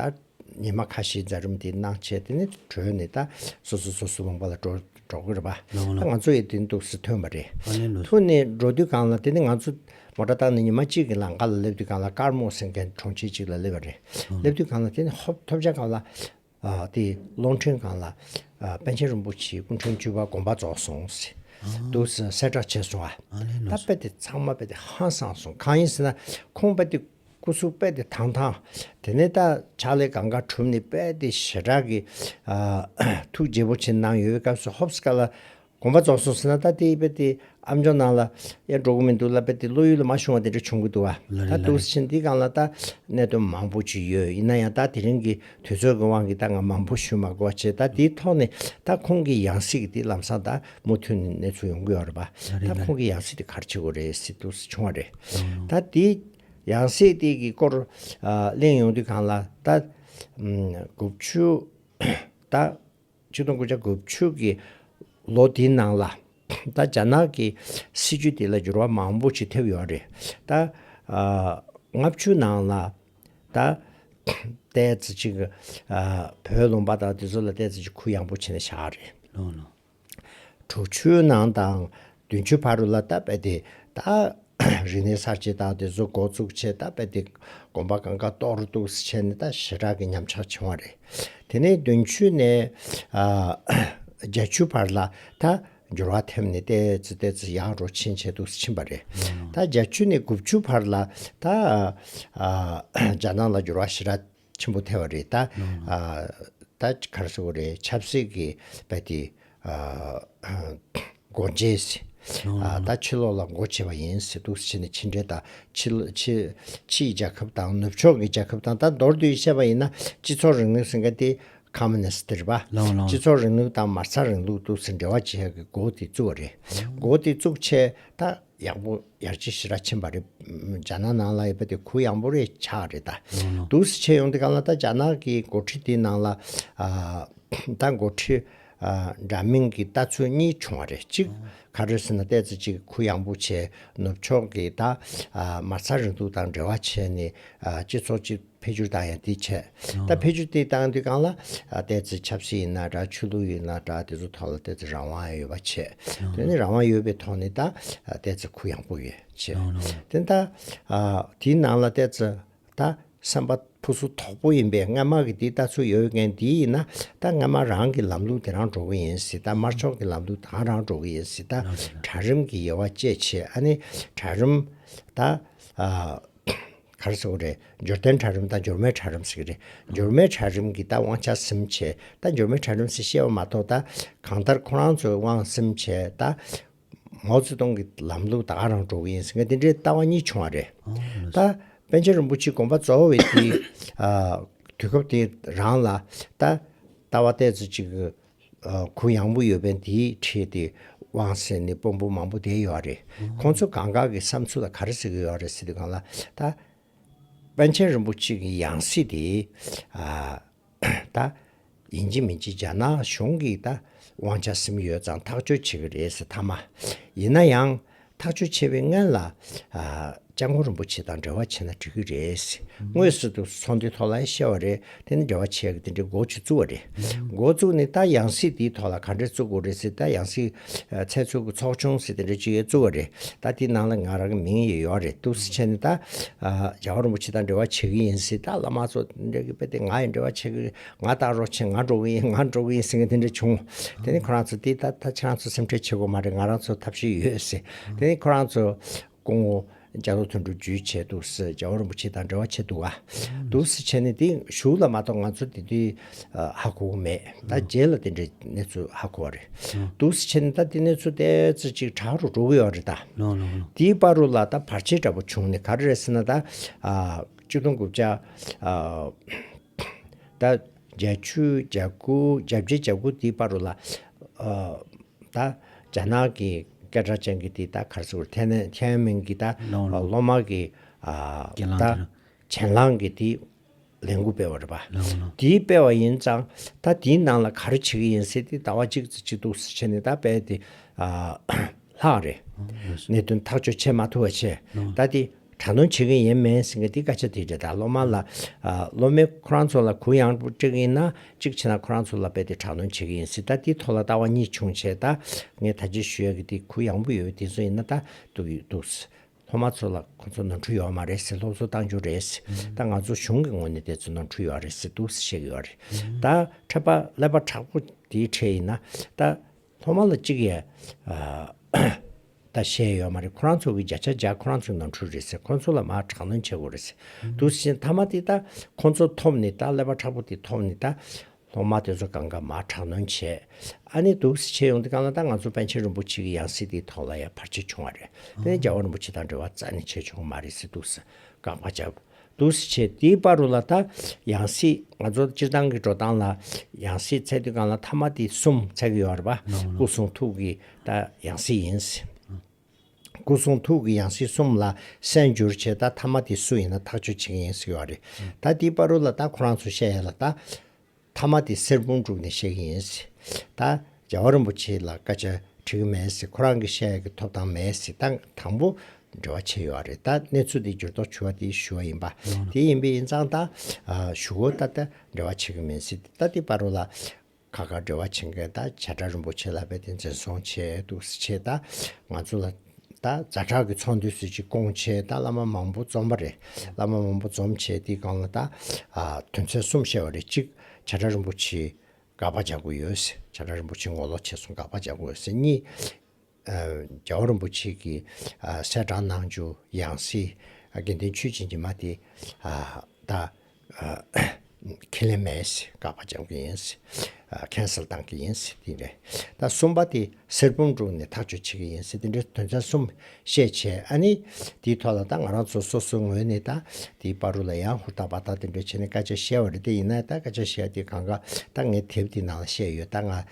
ཉི་མ་ཁ་ཤས་རྫ་རུམ་དེ་གནང་བྱས་དེ་ནས་གྲོལ་ནས་ད་སོ་སོ་སོ་སོའི་བང་པ་ལ་འགྲོ་འགྲོ་གི་རེད་པ། ད་ང་ཚོ་ཡས་དེ་འདུག་ས་ཐོན་པ་རེད། ཐུགས་ནས་འགྲོ་དུས་གང་ལ་དེ་ནས་ང་ཚོ་མོ་ཏྲ་བཏང་ནས་ཉི་མ་གཅིག་གི་ལང་ཀ་ལ་སླེབས་དུས་གང་ལ་དཀར་མོ་སེང་གེ་གྲོང་ཁྱེར་གཅིག་ལ་སླེབས་པ་རེད། སླེབས་དུས་གང་ལ་དེ་ནས་ཧོབ་ཐོབ་བྱ་གང་ལ། དེ་གློག་འཕྲིན་སྒང་ལ་པཎ་ཆེན་རིན་པོ་ཆེའི་སྐུ་འཕྲེང་བཅུ་པ་དགོངས་པ་རྫོགས་སོང་ཟེར་འདུག་གསལ་བསྒྲགས་བྱས་སོང་ཨ། ད་དཔེ་དེ་ཚང་མ་དཔེ་དེ་ཧ་སང་སོང་གང་ཡིན་ཟེར་ན་ཁོང་དཔེ་དེ་སྐུ་གཟུགས་དཔེ་དེ་དང་ཐང་དེ་ནས་ད་ཕྱག་ལས་གང་ག་གྲུབ་ནས་དཔེ་དེ་ཞེ་དྲག་གི་ཐུགས་རྗེ་པོ་ཆེ་གནང་ཡོད་པའི་སྐབས་སུ་ཧོབ་སྐ་ལ་དགོངས་པ་རྫོགས་སོང་ཟེར་ན་ད་དེ་དཔེ་དེ་ཨ་མཆོག་ནང་ལ་ཡར་འགྲོ་གི་མི་འདུག་ལ་དཔེ་དེ་བློ་ཡུལ་ལ་མ་ཤོང་བ་དེ་འདྲ་བྱུང་གི་འདུག་ཨ། ད་དུག་སེ་ཆེན་འདིའི་སྒང་ལ་ད་གནད་དོན་མང་པོ་ཅིག་ཡོད་ཡིན་ན་ཡང་ད་དེ་རིང་གི་དུས་ཚོད་ཀྱི་དབང་གིས་ད་ང་མང་པོ་ཞུ་མ་དགོས་པ་བྱས་ད་དེའི་ཐོག་ནས་ད་ཁོང་གི་ཡང་སྲིད་ཀྱི་དེ་ལམ་སང་ད་མུ་མཐུད་ནས་གནས་ཚུལ་ཡོང་གི་ཡོད་རེད་པ་ད་ཁོང་གི་ཡང་སྲིད་དེ་གར་བྱེད་དགོས་རེད་སེ་དུག་སེ་བྱུང་བ་རེད་ད་དེ་ཡང་སྲིད་དེ་གི་སྐོར་གླེང་ཡོང་དུས་སྒང་ལ་ད་དགུ་བཅུ་ད་ཆིག་སྟོང་དགུ་བརྒྱ་དགུ་བཅུ་གྱི་ལོ་དེའི་ནང་ལ། ད་རྒྱ་ནག་གི་སྲིད་བྱུས་དེ་ལ་འགྱུར་བ་མང་པོ་ཞིག་ཐེབས་ཡོད་རེད། ད་ལྔ་བཅུ་ནང་ལ། ད་ལྟའི་ཚེ་ཅིག་བོད་ལུང་པ་དང་དེ་ཚོ་ལ་ལྟས་ཚེ་ཅིག་གུ་ཡངས་པོ་བྱེད་ན་ཤ་རེད། དྲུག་བཅུའི་ནང་དང་བདུན་བཅུའི་བར་རུ་ལ་ལྟ་བས་དེ་ད། རིག་གནས་གསར་བརྗེ་དང་དེ་ཚོ་འགོ་བཙུགས་ཆེད་ད་དཔེ་དེ་གོམ་པ་གང་ག་གཏོགས་རུ་འདུག་བྱས་ནས་ད་ཞེ་དྲག་གི་ཉམས་ཆག་བྱུང་བ་རེད། དེ་ནས་བདུན་ཆུ་ནས་བརྒྱད་ཆུ་བར་ལ་ད་འགྱུར་བ་ཐེབས་ནས་ལྟས་ཙི་ལྟས་ཙི་ཡག་རོ་ཕྱིན་བྱས་འདུག་ཕྱིན་པ་རེད། ད་བརྒྱད་ཆུ་ནས་དགུ་བཅུ་བར་ལ་ད་རྒྱ་ནག་ལ་འགྱུར་བ་ཞེ་དྲག་ཆེན་པོ་ཐལ་བ་རེད་ད། ད་གར་སོ་རེད་ཆབ་སྲིད་ཀྱི་བལ་དེ། སྒོ་འབྱེད། ད་ཕྱི་ལོག་ལ་སྒོ་འབྱེད་པ་ཡིན་ཟེར་འདུག་ཕྱི་ནས་ཕྱི་འབྲེལ་ད། ཕྱིའི་རྒྱལ་ཁབ་དང་ནུབ་ཕྱོགས་ཀྱི་རྒྱལ་ཁབ་དང་ད་མདོར་བསྡུས་བཤད་པ་ཡིན་ན་སྤྱི་ཚོགས་རིང་ལུགས་ཟེར་མཁན་དེ། Communist། རེད་པ། སྤྱི་ཚོགས་རིང་ལུགས་དང་མ་རྩ་རིང་ལུགས་དུ་ཟེར་འབྲེལ་བ་བྱེད་ཡག་གི་སྒོ་དེ་བཙུགས་པ་རེད། སྒོ་དེ་བཙུགས་ཆེད་ད། ཡག་པོ་ཡར་རྒྱས་ཞི་ར་ཕྱིན་པ་རེད། རྒྱ་ནག་ནང་ལ་ཡོད་པ་དེ་གུ་ཡངས་པོ་རེད་ཆགས་རེད་ད། དུག་སེལ་བྱེད་ཡོང་དེ་གང་ལ་ད་རྒྱ་ནག་གི་འགོ་ཁྲིད་དེ་ནང་ལ། ད་འགོ་ཁྲིད་འདྲ་མིན་གྱི་ལྟ་ཚུལ་གཉིས་བྱུང་བ་རེད་གཅིག་ག་རེ་ཟེར་ན་བལྟས་ཚེ་གཅིག་གུ་ཡངས་པོ་བྱས་ནུབ་ཕྱོགས་ཀྱི་ད་མ་རྩ་རིང་ལུགས་དང་འབྲེལ་བ་བྱས་ནས་སྤྱི་ཚོགས་སྤྱི་འཕེལ་འགྱུར་བཏང་ཡང་དེ་ཆད། ད་འཕེལ་འགྱུར་དེ་བཏང་དུས་གང་ལ། ལྟས་ཚེ་ཆབ་སྲིད་ཡིན་ན་འདྲ་ཆོས་ལུགས་ཡིན་ན་འདྲ་དེ་ཚོ་ཐོག་ལ་ལྟས་ཚེ་རང་དབང་ཡོད་པ་ཆད། དེ་ནི་རང་དབང་ཡོད་པའི་ཐོག་ནས་ད་ལྟས་ཚེ་གུ་ཡངས་པོ་ཡོད་ཆད། དེ་ད། དེའི་ནང་ལ་ལྟས་ཚེ་ད་སེམས་པ་ཕུ་སུ་དོག་པོ་ཡིན་པས་སྔ་མ་གི་དེའི་ལྟ་ཚུལ་ཡོད་མཁན་དེ་ཡིན་ན་ད་སྔ་མ་རང་གི་ལམ་ལུགས་དེ་རང་འགྲོ་གི་ཡིན་སྲིད་ད་དམར་ཕྱོགས་ཀྱི་ལམ་ལུགས་དང་རང་འགྲོ་གི་ཡིན་སྲིད་ད་གྲལ་རིམ་གྱི་དབྱེ་བ་བཅད་ཆེད་ཨ་ནི་གྲལ་རིམ། ད། གར་གཙོ་བོ་རེད། འབྱོར་ལྡན་གྲལ་རིམ་དང་འབྱོར་མེད་གྲལ་རིམ་ཟེར་གྱི་རེད། འབྱོར་མེད་གྲལ་རིམ་གྱིས་ད་དབང་ཆ་གསུམ་བྱས། ད་འབྱོར་མེད་གྲལ་རིམ་སུས་བཤད་པ་མ་གཏོགས་ད་གང་ལྟར་ཁོ་རང་ཚོས་དབང་གསུམ་བྱས། ད་མའོ་ཙེ་ཏུང་གི་ལམ་ལུགས་ད་ག་རང་འགྲོ་གི་ཡིན་ཟེར་མཁན་དེ་འདྲའི་ལྟ་བ་གཉིས་བྱུང་བ་རེད། ད་པན་ཆེན་རིན་པོ་ཆེའི་དགོངས་པ་གཙོ་བོ་བས་དེའི་དུས་སྐབས་དེའི་རང་ལ་ད་ལྟ་བ་ལྟས་ཚོ་ཅིག་གུ་ཡངས་པོ་ཡོད་པས་འདིའི་འཕྲེད་དེ་དབང་ཟེར་ནས་དཔོན་པོ་མང་པོ་བསྡད་ཡོད་རེད། ཁོང་ཚོ་གང་གང་གི་བསམ་ཚུལ་ལ་ག་རེ་ཟེར་གི་ཡོད་རེད་ཟེར་དུས་གང་ལ་ད། པན་ཆེན་རིན་པོ་ཆེ་གི་ཡང་སྲིད་དེ། ད། ཡིན་གཅིག་མིན་གཅིག་རྒྱ་ནག་གཞུང་གིས་ད་དབང་ཆ་སིམ་ཡོད་ཙང་ཐག་གཅོད་བྱེད་ཀྱི་རེད་ཟེར་ཐ་མ། ཡིན་ན་ཡང། ཐག་གཅོད་བྱས་པའི་སྔན་ལ་ལྕགས་མགོ་རིན་པོ་ཆེ་དང་འབྲེལ་བ་བྱས་ན་འགྲིག་གི་རེད། དངོས་སུ་དུ་ཚོང་དེ་ཐོག་ལ་བཤད་བ་རེད་དེ་ནི་འབྲེལ་བ་བྱས་གི་དེ་འདྲའི་འགོ་བྱེད་བཙུགས་བ་རེད། འགོ་བཙུགས་ནས་ད་ཡང་སྲིད་དེའི་ཐོག་ལ་ག་འདྲའི་བཙུགས་དགོས་རེད་ཟེར་ད་ཡང་སྲིད་ཚལ་ཚུགས་གི་ཚོགས་ཆུང་ཟེར་དེ་འདྲའི་ཅིག་ཡོད་བཙུགས་བ་རེད་ད་དེའི་ནང་ལ་ང་རང་གི་མིང་ཡོད་ཡོད་རེད་འདུག་སེ་བྱས་ནས་ད་ལྕགས་མགོ་རིན་པོ་ཆེ་དང་འབྲེལ་བ་བྱས་གི་ཡིན་ཟེར་ད་བླ་མ་ཚོ་འདྲ་གི་དཔེ་དེ་ང་ཡང་འབྲེལ་བ་བྱས་གི་རེད། ང་ལྟ་རོགས་ཆེན་ང་འགྲོ་གི་ཡིན་ང་འགྲོ་གི་ཡིན་ཟེར་མཁན་དེ་འདྲ་བྱུང། དེ་ནི་ཁོ་རང་ཚོ་དེ་ད་ལྟ་ཁྱེད་རང་ཚོ་སེམས་ཁྲལ་བྱེད་དགོས་མ་རེད་ང་རང་ཚོ་ཐབས་ཤེས་ཡོད་ཟེར། དེ་ནི་ཁོ་རང་ཚོ་སྐུ་ངོ་རྒྱ་མཚོ་དོན་འགྲུབ་བརྒྱུད་བྱས་འདུག་ཟེར་རྒྱལ་བ་རིན་པོ་ཆེ་དང་འབྲེལ་བ་བྱས་འདུག་ཨ། འདུག་ཟེར་བྱས་ནས་དེ་ཞུགས་ལ་མ་གཏོགས་ང་ཚོ་དེ་དུས་ཧ་གོ་གི་མེད་ད་རྗེས་ལ་དེ་འདྲའི་གནས་ཚུལ་ཧ་གོ་བ་རེད། འདུག་ཟེར་བྱས་ནས་ད་དེ་གནས་ཚུལ་དེ་ཚོ་ཅིག་དྲག་རུ་འགྲོ་གི་ཡོད་རེད་ད། དེའི་པར་རུ་ལ་ད་བར་ཆད་འདྲ་པོ་བྱུང་ནས་ག་རེ་རེད་ཟེར་ན་ད། བཅུ་སྟོང་དགུ་བརྒྱ། ད་བརྒྱ་ཆུ་བརྒྱ་དགུ་བརྒྱ་བརྒྱད་བརྒྱ་དགུ་འདི་པར་རོ་ལ། ད་རྒྱ་ནག་གི་སྐད་སྒྲ་ཅན་གྱི་འདི་ད་གར་སོ་ཐའི་ནན་ཐའི་མན་གྱི་ད་ལོ་མ་གི་ད་གྱེན་ལངས་གི་འདི་ལན་དགུ་སྤེལ་བ་རེད་པ། འདི་སྤེལ་བ་ཡིན་ཙང་ད་འདིའི་ནང་ལ་ག་རེ་བྱེད་ཀྱི་ཡིན་ཟེར་ཏེ་ཟླ་བ་གཅིག་ཙི་གཅིག་ཏུ་བྱས་ནས་ད་སྤེལ་ཏེ། ལྷག་རེད། གནད་དོན་ཐག་གཅོད་བྱེད་མ་ཐུབ་པ་ཆེ། ད་འདི་དྲ་མདོང་བྱེད་གི་ཡིན་མིན་ཟེར་གི་འདི་སྐད་ཆ་དེ་རེད་ད་སློབ་མ་ལ། སློབ་མའི་ཁོ་རང་ཚོ་ལ་གུ་ཡངས་པོ་སྤྲད་གི་ཡིན་ན་གཅིག་བྱས་ན་ཁོ་རང་ཚོ་ལ་རྦད་དེ་དྲག་མདོང་བྱེད་གི་ཡིན་སྲིད་ད་འདི་ཐོག་ལ་ལྟ་བ་གཉིས་བྱུང་བྱས་ད་ངས་ད་ཅི་ཞུ་ཡ་གི་འདི་གུ་ཡངས་པོ་ཡོད་འདི་ཚོ་ཡིན་ན་ད་འདུག་ཡོད་འདུག་སློབ་མ་ཚོ་ལ་ཁོ་ཚོ་ནོར་འཁྲུལ་ཡོད་མ་རེད་སེ་སློབ་གསོ་བཏང་རྒྱུ་རེད་སེ་ད་ང་ཚོ་གཞུང་གི་ངོས་ནས་དེ་ཚོ་ནོར་འཁྲུལ་ཡོད་རེད་སེ་འདུག་སེ་བཤད་གི་ཡོད་རེད་ད་ཕྲད་པ་ཀླད་པ་དྲག་པོ་འདིའི་གྲས་ཡིན་ན་ད། ཁོང་མ་ལ་གཅིག་ཡས་ད་བཤད་ཡོད་མ་རེད་ཁོ་རང་ཚོ་གི་བརྒྱ་ཆ་བརྒྱ་ཁོ་རང་ཚོའི་ནང་འཁྲུལ་རེད་ཟེར་ཁོང་ཚོ་ལ་མ་དྲག་གནོན་བྱེད་དགོས་རེད་ཟེར་འདུག་བཞིན་མཐའ་མ་དེ་ད་ཁོང་ཚོ་ཐོབ་ནི་ད་ཀླད་པ་ཁྲག་པོ་དེ་ཐོབ་ནི་ད་སློང་མ་དེ་ཚོ་གང་ག་མ་དྲག་གནོན་བྱས་ཨ་ནི་འདུག་བྱས་ཡོང་དེ་གང་ལ་ད་ང་ཚོ་པན་ཆེན་རིན་པོ་ཆེ་གི་ཡང་སྲིད་དེ་ཐོག་ལ་ཡ་བར་བྱས་བྱུང་བ་རེད་དེ་ནི་རྒྱལ་བ་རིན་པོ་ཆེ་དང་འབྲེལ་བ་རྩ་ནས་བྱས་བྱུང་བ་མ་རེད་ཟེར་འདུག་ཟེར་དགག་པ་བྱས། འདུག་སེ་བྱས་དེའི་དཔའ་རུ་ལ་ད་ཡང་སྲིད་ང་ཚོ་སྤྱིར་བཏང་གི་འགྲོ་སྟངས་ལ་ཡང་སྲིད་ཚད་དུས་གང་ལ་མཐའ་མ་དེ་གསུམ་ཚད་ཀྱི་ཡོད་རེད་པ། སྐུ་གསུང་ཐུགས་ཀྱི་ད་ཡང་སྲིད་ཡིན། སྐུ་གསུང་ཐུགས་ཀྱི་ཡང་སྲིད་གསུམ་ལ་གསན་འགྱུར་བྱས་ད་མཐའ་མ་དེ་སུ་ཡིན་ན་ཐག་གཅོད་བྱེད་མཁན་ཡིན་ཟེར་གྱི་ཡོད་རེད། ད་དེའི་དཔའ་རུ་ལ་ད་ཁོ་རང་ཚོ་བཤད་ཡ་ལ་ད། ཐ་མ་དེ་སེར་སྤུངས་དྲུག་ནས་བཤད་ཀྱི་ཡིན། ད་རྒྱལ་བ་རིན་པོ་ཆེ་ལ་སྐད་ཆ་དྲི་གི་མེད། ཁོ་རང་གིས་བཤད་ཀྱི་ཐོབ་ཐང་མེད། ད་དང་པོ་འབྲེལ་བ་ཆད་ཡོད་རེད། ད་གནས་ཚུལ་དེ་འགྱུར་ལྡོག་བྱུ་བ་དེ་ཞུ་བ་ཡིན་པ། དེ་ཡིན་པའི་ཡིན་ཙང་ད་ཞུ་གོ་ད་ད་འབྲེལ་བ་བྱེད་ཀྱི་མིན་སྲིད་ད་དེ་པར་རོ་ལ། ཁ་ཁ་འབྲེལ་བ་བྱེད་མཁན་ད་བྱ་བྲག་རིན་པོ་ཆེ་ལ་བས་ཏེ་འཛིན་བཟུང་བྱས་འདུག་སེ་ཆེད་ད་ང་ཚོ་ལ། ད་རྫ་བྲག་གི་ཚོང་འདུས་སུ་ཅིག་སྐོང་བྱས་ད་བླ་མ་མང་པོ་འཛོམས་པ་རེད་བླ་མ་མང་པོ་འཛོམས་བྱས་དེའི་སྒང་ལ་ད་དོན་ཚན་གསུམ་བཤད་བ་རེད་གཅིག་བྱ་བྲག་རིན་པོ་ཆེའི་དགག་པ་བྱ་གོ་ཡོད་སེ་བྱ་བྲག་རིན་པོ་ཆེ་མགོ་ལོག་བྱས་སོང་དགག་པ་བྱ་གོ་ཡོད་སེ་གཉིས་རྒྱལ་བ་རིན་པོ་ཆེ་གི་སྲས་བྲག་ནང་ཆུ་ཡང་སྲིད་དགེ་ལྡན་ཆོས་སྦྱིན་གྱི་མ་དེ་ད་ཁས་ལེན་མེད། བཀག་པ་སྦྱང་གི་ཡིན། Cancel བཏང་གི་ཡིན། དེ་འདྲ། ད་གསུམ་པ་དེ་སེར་བུམ་དྲུག་ནས་ཐག་གཅོད་བྱེད་ཀྱི་ཡིན། དེ་འདྲའི་དོན་ཚན་གསུམ་བཤད་བྱས་ཨ་ནི། དེའི་ཐོག་ལ་ད་ང་རང་ཚོ་སོ་སོའི་ངོས་ནས་ད་དེའི་བ་རུ་ལ་ཡང་ཧུར་ཐག་བ་ཐག་དེ་འདྲ་བྱས་ནས་སྐད་ཆ་བཤད་བ་རེད་དེ་ཡིན་ན་ད་སྐད་ཆ་བཤད་དེ་གང་ག་ད་ངའི་དེབ་དེ་ནང་ལ་བཤད་ཡོད་ད་ང་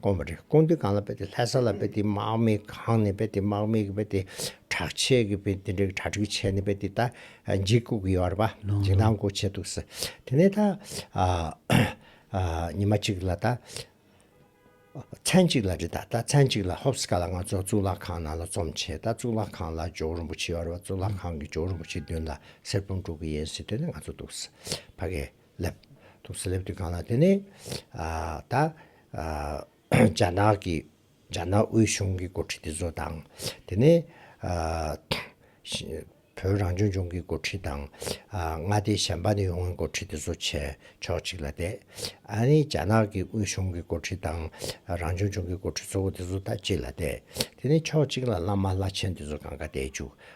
དགོངས་པ་རེད་དགོངས་དོན་གང་ལ་དཔེ་དེ་ལྷ་ས་ལ་དཔེ་དེ་དམག་མི་གང་ནས་དཔེ་དེ་དམག་མི་གི་དཔེ་དེ་དྲག་ཆས་གི་དཔེ་དེ་འདྲ་གྲ་སྒྲིག་བྱས་ནས་དཔེ་དེ་ད་འཇིགས་སྐུག་གི་ཡོད་རེད་པ་འཇིགས་སྣང་སྐུག་བྱས་འདུག་ཟེར་དེ་ནས་ད་ཉི་མ་གཅིག་ལ་ད་མཚན་གཅིག་ལ་རེད་ད་ད་མཚན་གཅིག་ལ་ཧོབ་སི་ཀ་ལ་ང་ཚོ་གཙུག་ལག་ཁང་ནང་ལ་རྩོམ་བྱས་ད་གཙུག་ལག་ཁང་ལ་ཇོ་བོ་རིན་པོ་ཆེ་ཡོད་རེད་པ་གཙུག་ལག་ཁང་གི་ཇོ་བོ་རིན་པོ་ཆེ་མདུན་ལ་གསེར་བུམ་དཀྲུག་གི་ཡིན་ཟེར་དོན་ནི་ང་ཚོ་འདུག་ཟེར་ཕ་གི། སླེབ། ཐུགས་སུ་སླེབ་དུས་གང་ལ་བརྟེན་ནས་ད་རྒྱ་ནག་གི་རྒྱ་ནག་དབུས་གཞུང་གི་འགོ་ཁྲིད་དེ་ཚོ་དང་དེ་ནས་བོད་རང་སྐྱོང་ལྗོངས་ཀྱི་འགོ་ཁྲིད་དང་མངའ་སྡེ་གཞན་པ་ནས་ཡོང་བའི་འགོ་ཁྲིད་དེ་ཚོ་བྱས་ཕྱོགས་གཅིག་ལ་བསྡད། ཨ་རི་རྒྱ་ནག་གི་དབུས་གཞུང་གི་འགོ་ཁྲིད་དང་རང་སྐྱོང་ལྗོངས་ཀྱི་འགོ་ཁྲིད་གཙོ་བོ་དེ་ཚོ་ད་གཅིག་ལ་བསྡད། དེ་ནས་ཕྱོགས་གཅིག་ལ་བླ་མ་བླ་ཆེན་དེ་ཚོ་གང་ག་བསྡད་བཅུག་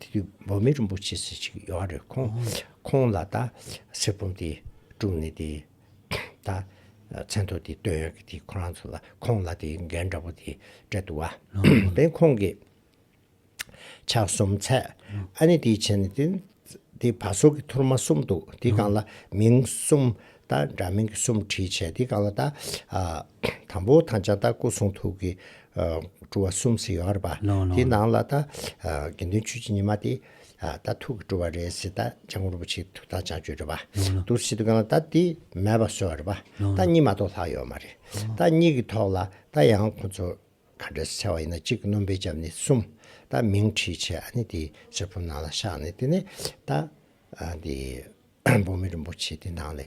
དེ་དུས་འབོ་མེ་རིན་པོ་ཆེ་ཟེར་ཞིག་ཡོད་ཨ་རེད་ཁོང་ཁོང་ལ་ད་གསེར་སྤུངས་དེ་དཀྲུགས་ནས་དེ་ད་མཚན་ཐོ་དེ་བཏོན་ཡོད་གི་དེ་ཁོ་རང་ཚོ་ལ་ཁོང་ལ་དེ་འགན་འདྲ་པོ་དེ་སྤྲད་འདུག་བ་དེ་ཁོང་གི་ཕྱག་གསུམ་ཚད་ཨ་ནི་དེ་བྱས་ནས་དེ་དེ་བ་སོ་གི་ཐུར་མ་གསུམ་འདུག་དེ་གང་ལ་མིང་གསུམ་ད་འདྲ་མིང་གི་གསུམ་བྲིས་བྱས་དེ་གང་ལ་ད་ཨ། དང་པོ་དང་ལྕགས་སྟག་སྐུ་གསུང་ཐུགས་ཀྱི་སྤྲུལ་བ་གསུམ་ཟེར་ཡོང་རེད་པ། དེའི་ནང་ལ་ད་དགེ་འདུན་ཆོས་རྗེ་ཉི་མ་དེ་ད་ཐུགས་ཀྱི་སྤྲུལ་བ་རེད་ཟེར་ད་ལྕགས་མགོན་རིན་པོ་ཆེའི་ཐུགས་དང་ལྕགས་ཀྱོད་རེད་པ། དུར་ཞི་དུ་གང་ལ་ད་དེ་མེད་པ་བཟོས་རེད་པ། ད་གཉིས་མ་གཏོགས་ལྷག་ཡོད་མ་རེད། ད་གཉིས་ཀྱི་ཐོག་ལ་ད་ཡང་ཁོང་ཚོ་ག་འདྲ་ཟེར་བ་ཡིན་ན་གཅིག་སྣུམ་པའི་ལྕམ་ནི་གསུམ་ད་མིང་བྲིས་བྱས་ཨ་ནི་དེ་སེར་པོ་ནང་ལ་བཞག་ནས་དེ་ནས་ད་འདི་འབུམ་མེ་རིན་པོ་ཆེ་དེ་ནང་ལས།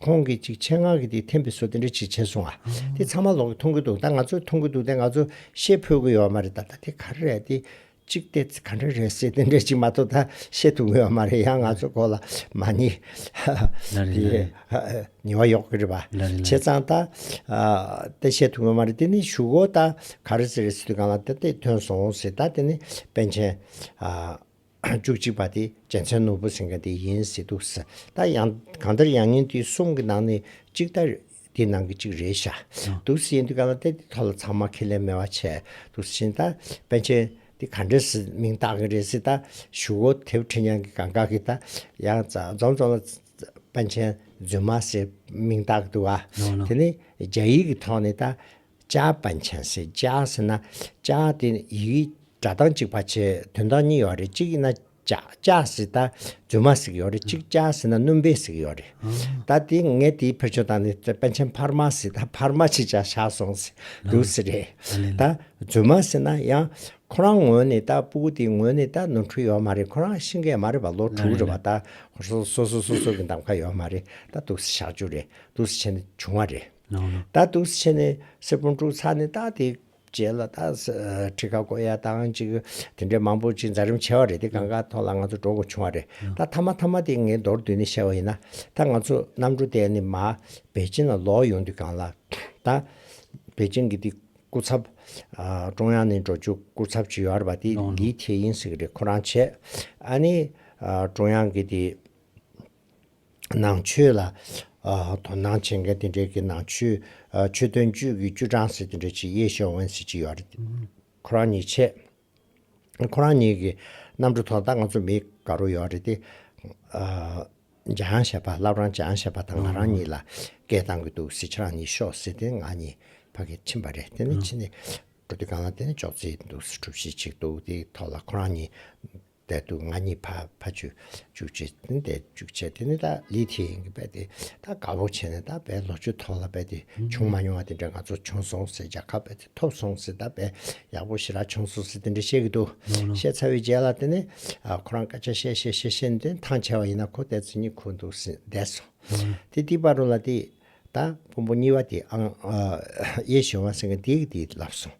ཁོང་གིས་ཅིག་ཆེད་མངགས་ཀྱིས་དེ་འཐེན་པའི་སྲོལ་དེ་འདྲ་ཅིག་བྱས་སོང་ང། དེ་ཚང་མ་ལོག་གིས་མཐོང་གི་འདུག་ད་ང་ཚོས་མཐོང་གི་འདུག་དེ་ང་ཚོས་ཤེས་ཕོད་ཀྱི་ཡོད་མ་རེད་ད་ད་དེ་ག་རེ་རེད་དེ། ཅིག་དེ་ག་འདྲ་རེད་ཟེར་དེ་འདྲ་ཅིག་མ་གཏོགས་ད་ཤེས་ཐུབ་ཀྱི་ཡོད་མ་རེད་ཡང་ང་ཚོའི་གོ་ལ་མ་ནི། དེ། ཉེ་བ་ཡོག་གི་རེད་པ། བྱས་ཙང་ད། དེ་ཤེས་ཐུབ་ཀྱི་ཡོད་མ་རེད་དེ་ནི་ཞུ་གོ་ད་ག་རེ་ཟེར་རེད་ཟེར་དུས་གང་ལ་དེ་དེ་ཐོན་སོང་ཟེར་ད་དེ་ནི་པན་ཆེན། བཅུ་གཅིག་པ་དེ་རྒྱལ་མཚན་ནོར་བུ་སེང་གེ་དེ་ཡིན་ཟེར་འདུག་ཟེར་ད་ཡང་གང་ལྟར་ཡང་ཉིན་དེ་གསུམ་གི་ནང་ནས་གཅིག་ད་དེའི་ནང་གི་གཅིག་རེད་བཞག་འདུག་ཟེར་འདུག་ག་ལ་ཏེ་དེ་ཐོག་ལ་ཚང་མ་ཁས་ལེན་མེད་པ་བྱས་འདུག་ཟེར་བཞིན་ད་པན་ཆེན་དེ་ག་འདྲས་སུ་མིང་བཏགས་གི་རེད་ཟེར་ད་ཞུ་བོ་དེ་ཕྲེང་ཡང་གི་གང་ག་གི་ད་ཡང་རྫོང་རྫོང་ལ་པན་ཆེན་རྫུན་མ་ཟེར་མིང་བཏགས་གི་འདུག་ག་དེ་ནི་རྒྱ་ཡིག་གི་ཐོག་ནས་ད། ལྕགས་པན་ཆེན་སེ་ལྕགས་ཟེར་ན་ལྕགས་དེ་ཡི་གེ་སྒྲ་གདངས་གཅིག་པ་ཆེ་དོན་གདངས་གཉིས་ཡོད་རེད་གཅིག་ཡིན་ན་ལྕགས་ལྕགས་ཟེར་ད་རྫུན་མ་ཟིག་ཡོད་རེད་གཅིག་ལྕགས་ཟེར་ན་སྣུམ་པའི་ཟིག་ཡོད་རེད་ད་དེ་ངས་དེའི་ཕུལ་བྱུང་གདངས་ནི་པན་ཆེན་འཕར་མ་ཟིག་ད་འཕར་མ་ཆེ་ཆག་ཆག་སོང་ཟིག་འདུག་ཟིག་རེད་ད་རྫུན་མ་ཟེར་ན་ཡང་ཁོ་རང་ངོས་ནས་ད་སྤུ་གུ་དེའི་ངོས་ནས་ད་ནོར་འཁྲུལ་ཡོད་མ་རེད་ཁོ་རང་ཤི་འགས་མ་རེད་པ་ལོ་དྲུག་རེད་པ་ད་སོ་སོ་སོ་སོ་གི་འདམ་ཁ་ཡོད་མ་རེད་ད་འདུག་ཟིག་ཞག་བཅུ་རེད་འདུག་ཟིག་བྱས་ནས་བྱུང་བ་རེད། ད་ཐུགས་ཆེ་ནས་སེར་པོ་འཁྲུག་ཚར་ནས་རྟགས་དེ་བྱས་ལ་ད་ཁྲི་ཁ་གོ་ཡ་བཏང་ཅིག་དེ་འདྲའི་མང་པོ་ཅིག་འཛའ་རིམ་ཆེ་བ་རེད་དེ་གང་ག་ཐོག་ལ་ང་ཚོ་འགྲོ་དགོས་བྱུང་བ་རེད་ད་ཐ་མ་ཐ་མ་དེ་ངས་མདོར་བསྡུས་ནས་བཤད་བ་ཡིན་ན་ད་ང་ཚོ་གནམ་གྲུ་བསྡད་ནས་མ་པེ་ཅིན་ལ་ལོག་ཡོང་དུས་གང་ལ་ད་པེ་ཅིན་གྱི་དེ་སྐུ་ཚབ་ཀྲུང་དབྱང་ནས་འགྲོ་བཅུག་སྐུ་ཚབ་ཅིག་ཡོད་པ་དེ་ལི་ཐེ་ཡིན་ཟེར་གྱི་རེད་ཁོ་རང་བྱས་ཨ་ནི་ཀྲུང་དབྱང་གི་དེ། ནང་ཆོས་ལ་དོ་སྣང་བྱེད་མཁན་དེ་འདྲའི་ནང་ཆོས་ཆོས་དོན་ཅུས་ཀྱི་ཅུས་ཀྲང་ཟེར་དེ་འདྲའི་ཆེད་ཡེ་ཞོ་ཝན་ཟེར་གཅིག་ཡོད་རེད་དེ་ཁོ་རང་ཉིད་ཆེད་ཁོ་རང་ཉིད་ཀྱི་གནམ་གྲུ་ཐོག་ད་ང་ཚོ་མི་ག་རོ་ཡོད་རེད་དེ་འཇའ་ཡང་བྱས་པ་བསླབ་རང་འཇའ་ཡང་བྱས་པ་དང་ང་རང་ཉིད་ལ་སྐད་བཏང་གི་འདུག་ཟེར་ཁྱེད་རང་ཉིད་ཤོག་ཟེར་དེ་ང་ཉིད་ཕ་གིར་ཕྱིན་པ་རེད་དེ་ནས་ཕྱིན་ནས་འགྲོ་དུས་གང་ལ་དེ་ནས་ཅོག་ཙེ་འདུག་ཟེར་གྲུ་བཞི་ཅིག་འདུག་དེའི་ཐོག་ལ་ཁོ་རང་ཉིད་བསྡད་འདུག་ང་གཉིས་ཕ་ཕ་ཆོས་ཅུག་བྱས་ཏེ་བསྡད་འཇུག་བྱས་ཏེ་ནི་ད་ལི་ཐེ་ཡིན་གྱི་བས་ཏེ་ད་དགའ་བོ་བྱས་ནས་ད་བས་ལོ་ཆུ་ཐོག་ལ་བས་ཏེ་བྱུང་མ་མྱོང་བ་དེ་འདྲ་ང་ཚོ་བྱུང་སོང་ཟེར་རྒྱ་ཁབ་བས་ཏེ་ཐོབ་སོང་ཟེར་ད་བས་ཡག་པོ་ཞི་རག་བྱུང་སོང་ཟེར་དེ་འདྲ་བཤད་གི་འདུག་བཤད་ཚར་བའི་རྗེས་ལ་དེ་ནི་ཁོ་རང་སྐད་ཆ་བཤད་བཤད་བཤད་བཤད་ནས་དེ་ཐང་ཆད་བ་ཡིན་ན་ཁོ་བསྡད་ཚུལ་གཉིད་ཁུག་འདུག་ཟེར་བསྡད་སོང་དེ་ཏི་པ་རུ་ལ་དེ། དང། ཕུང་པོ་གཉིས་པ་དེ་ཨང། ཡེ་གཞི་དབང་སེང་གེ་འདི་ཡིག་འདི་ལབ་སོང།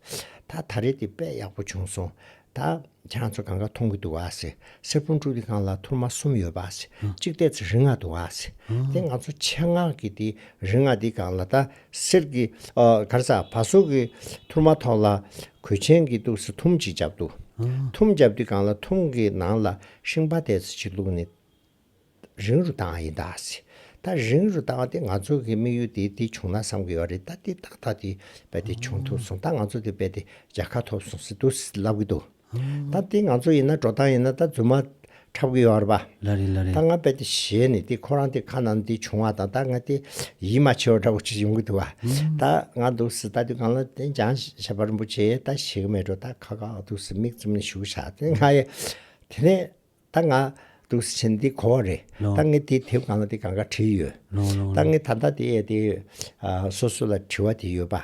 ད་ད་རེས་འདི་དཔེ་ཡག་པོ་བྱུང་སོང། ད། ཁྱང་ཚོ་གང་ག་མཐོང་གི་འདུག་ཨ་སི། སེར་ཕུང་དཀྲུག་དེ་གང་ལ་ཐུར་མ་གསུམ་ཡོད་པ་ཨ་སི། གཅིག་ལྟས་ཚེ་རིག་སྔགས་འདུག་ཨ་སི། དེ་ང་ཚོ་ཆེ་སྔགས་ཀྱི་དེ་རིག་སྔགས་འདི་གང་ལ་ད་སེར་གི། གར་ས་བ་སོ་གི་ཐུར་མ་ཐོག་ལ་གོས་ཆེན་གི་འདུག་སི་ཐུམ་གཅིག་བརྒྱབ་འདུག། ཐུམ་བརྒྱབ་དུས་གང་ལ་ཐུམ་གི་ནང་ལ་ཤིང་པ་ལྟས་ཚེ་གཅིག་བླུགས་ནས། རིང་རུ་བཏང་བ་ཡིན་ད་ཟེར། ད་རིང་རུ་བཏང་བ་དེ་ང་ཚོ་གི་དམིགས་ཡུལ་དེ་དེ་བྱུང་ན་བསམ་གི་ཡོད་རེད་ད་དེ་ཏག་ཏག་དེ་རྦད་དེ་བྱུང་ཐུབ་སོང་ད་ང་ཚོ་དེ་རྦད་དེ་རྒྱལ་ཁ་ཐོབ་སོང་ཟེར་དུས་ལབ་གི་འདུག་ད་དེ་ང་ཚོ་ཡིན་ན་འགྲོ་སྟངས་ཡིན་ན་ད་རྫུན་མ་འཁྲབ་གི་ཡོད་རེད་ལ་རེད་ལ་རེད། ད་ང་རྦད་དེ་བཞེས་ནས་དེ་ཁོ་རང་དེ་ཁ་ནང་དེ་བྱུང་བ་དང་ད་ང་དེ་ཡིད་མ་ཆེས་བ་འདྲ་བོ་ཅིག་ཡོང་གི་འདུག་བ་ད་ང་འདུག་ཟེར་ད་དེ་གང་ལ་དེ་འཇང་ཞབས་པ་རིན་པོ་ཆེ་ད་བཞེས་གི་མེད་འགྲོ་ད་ཁ་ཁ་འདུག་ཟེར་མིག་བཙུམ་ནས་བཞུགས་བཞག་དེ་ང་ཡི་དེ་ནས་ད་ང་དུག་སེལ་བྱེད་འདི་གོ་བ་རེད་ད་ངས་དེ་དེབ་གང་ལ་དེ་གང་ག་བྲིས་ཡོད་ད་ངས་ད་ལྟ་དེ་ཡས་དེ་ཡོད་སོ་སོ་ལ་དྲི་བ་དེ་ཡོད་པ་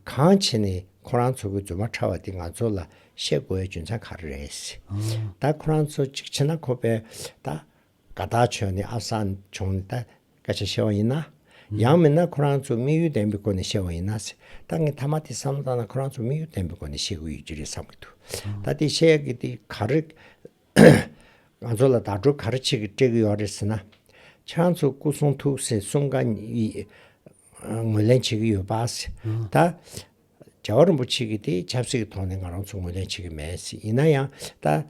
གང་བྱས་ནས་ཁོ་རང་ཚོ་གི་རྫུན་མ་ཕྲ་བ་དེ་ང་ཚོ་ལ་བཤད་དགོས་བའི་རྒྱུ་མཚན་ག་རེ་རེད་ད་ཁོ་རང་ཚོ་གཅིག་བྱས་ན་ཁོ་པས་ད་དགའ་དག་བྱོས་ནས་ཨ་བསང་བྱུང་ནས་ད་སྐད་ཆ་བཤད་བ་ཡིན་ན། ཡང་མིན་ན་ཁོ་རང་ཚོ་དམིགས་ཡུལ་ལྡན་པའི་སྒོ་ནས་བཤད་བ་ཡིན་ན། ད་ངས་ཐ་མ་དེ་བསམ་བློ་བཏང་ན་ཁོ་རང་ཚོ་དམིགས་ཡུལ་ལྡན་པའི་སྒོ་ནས་བཤད་དགོས་ཡོད་ཀྱི་རེད་བསམ་གྱི་འདུག་ད་དེ་བཤད་ཀྱི་དེ་ག་རེ། ང་ཚོ་ལ་དག་སྒྲུབ་ག་རེ་བྱེད་ཀྱི་སྤྲད་ཀྱི་ཡོད་རེད་ཟེར་ན། ཁྱེད་རང་ཚོ་སྐུ་གསུང་ཐུགས་སྲས་གསུམ་ག་ངོས་ལེན་བྱེད་ཀྱི་ཡོད་པ། ད་རྒྱལ་བ་རིན་པོ་ཆེ་གྱི་དེ་ཆབ་སྲིད་ཀྱི་ཐོག་ནས་ང་རང་ཚོ་ངོས་ལེན་བྱེད་ཀྱི་མེད། ཡིན་ན་ཡང་ད།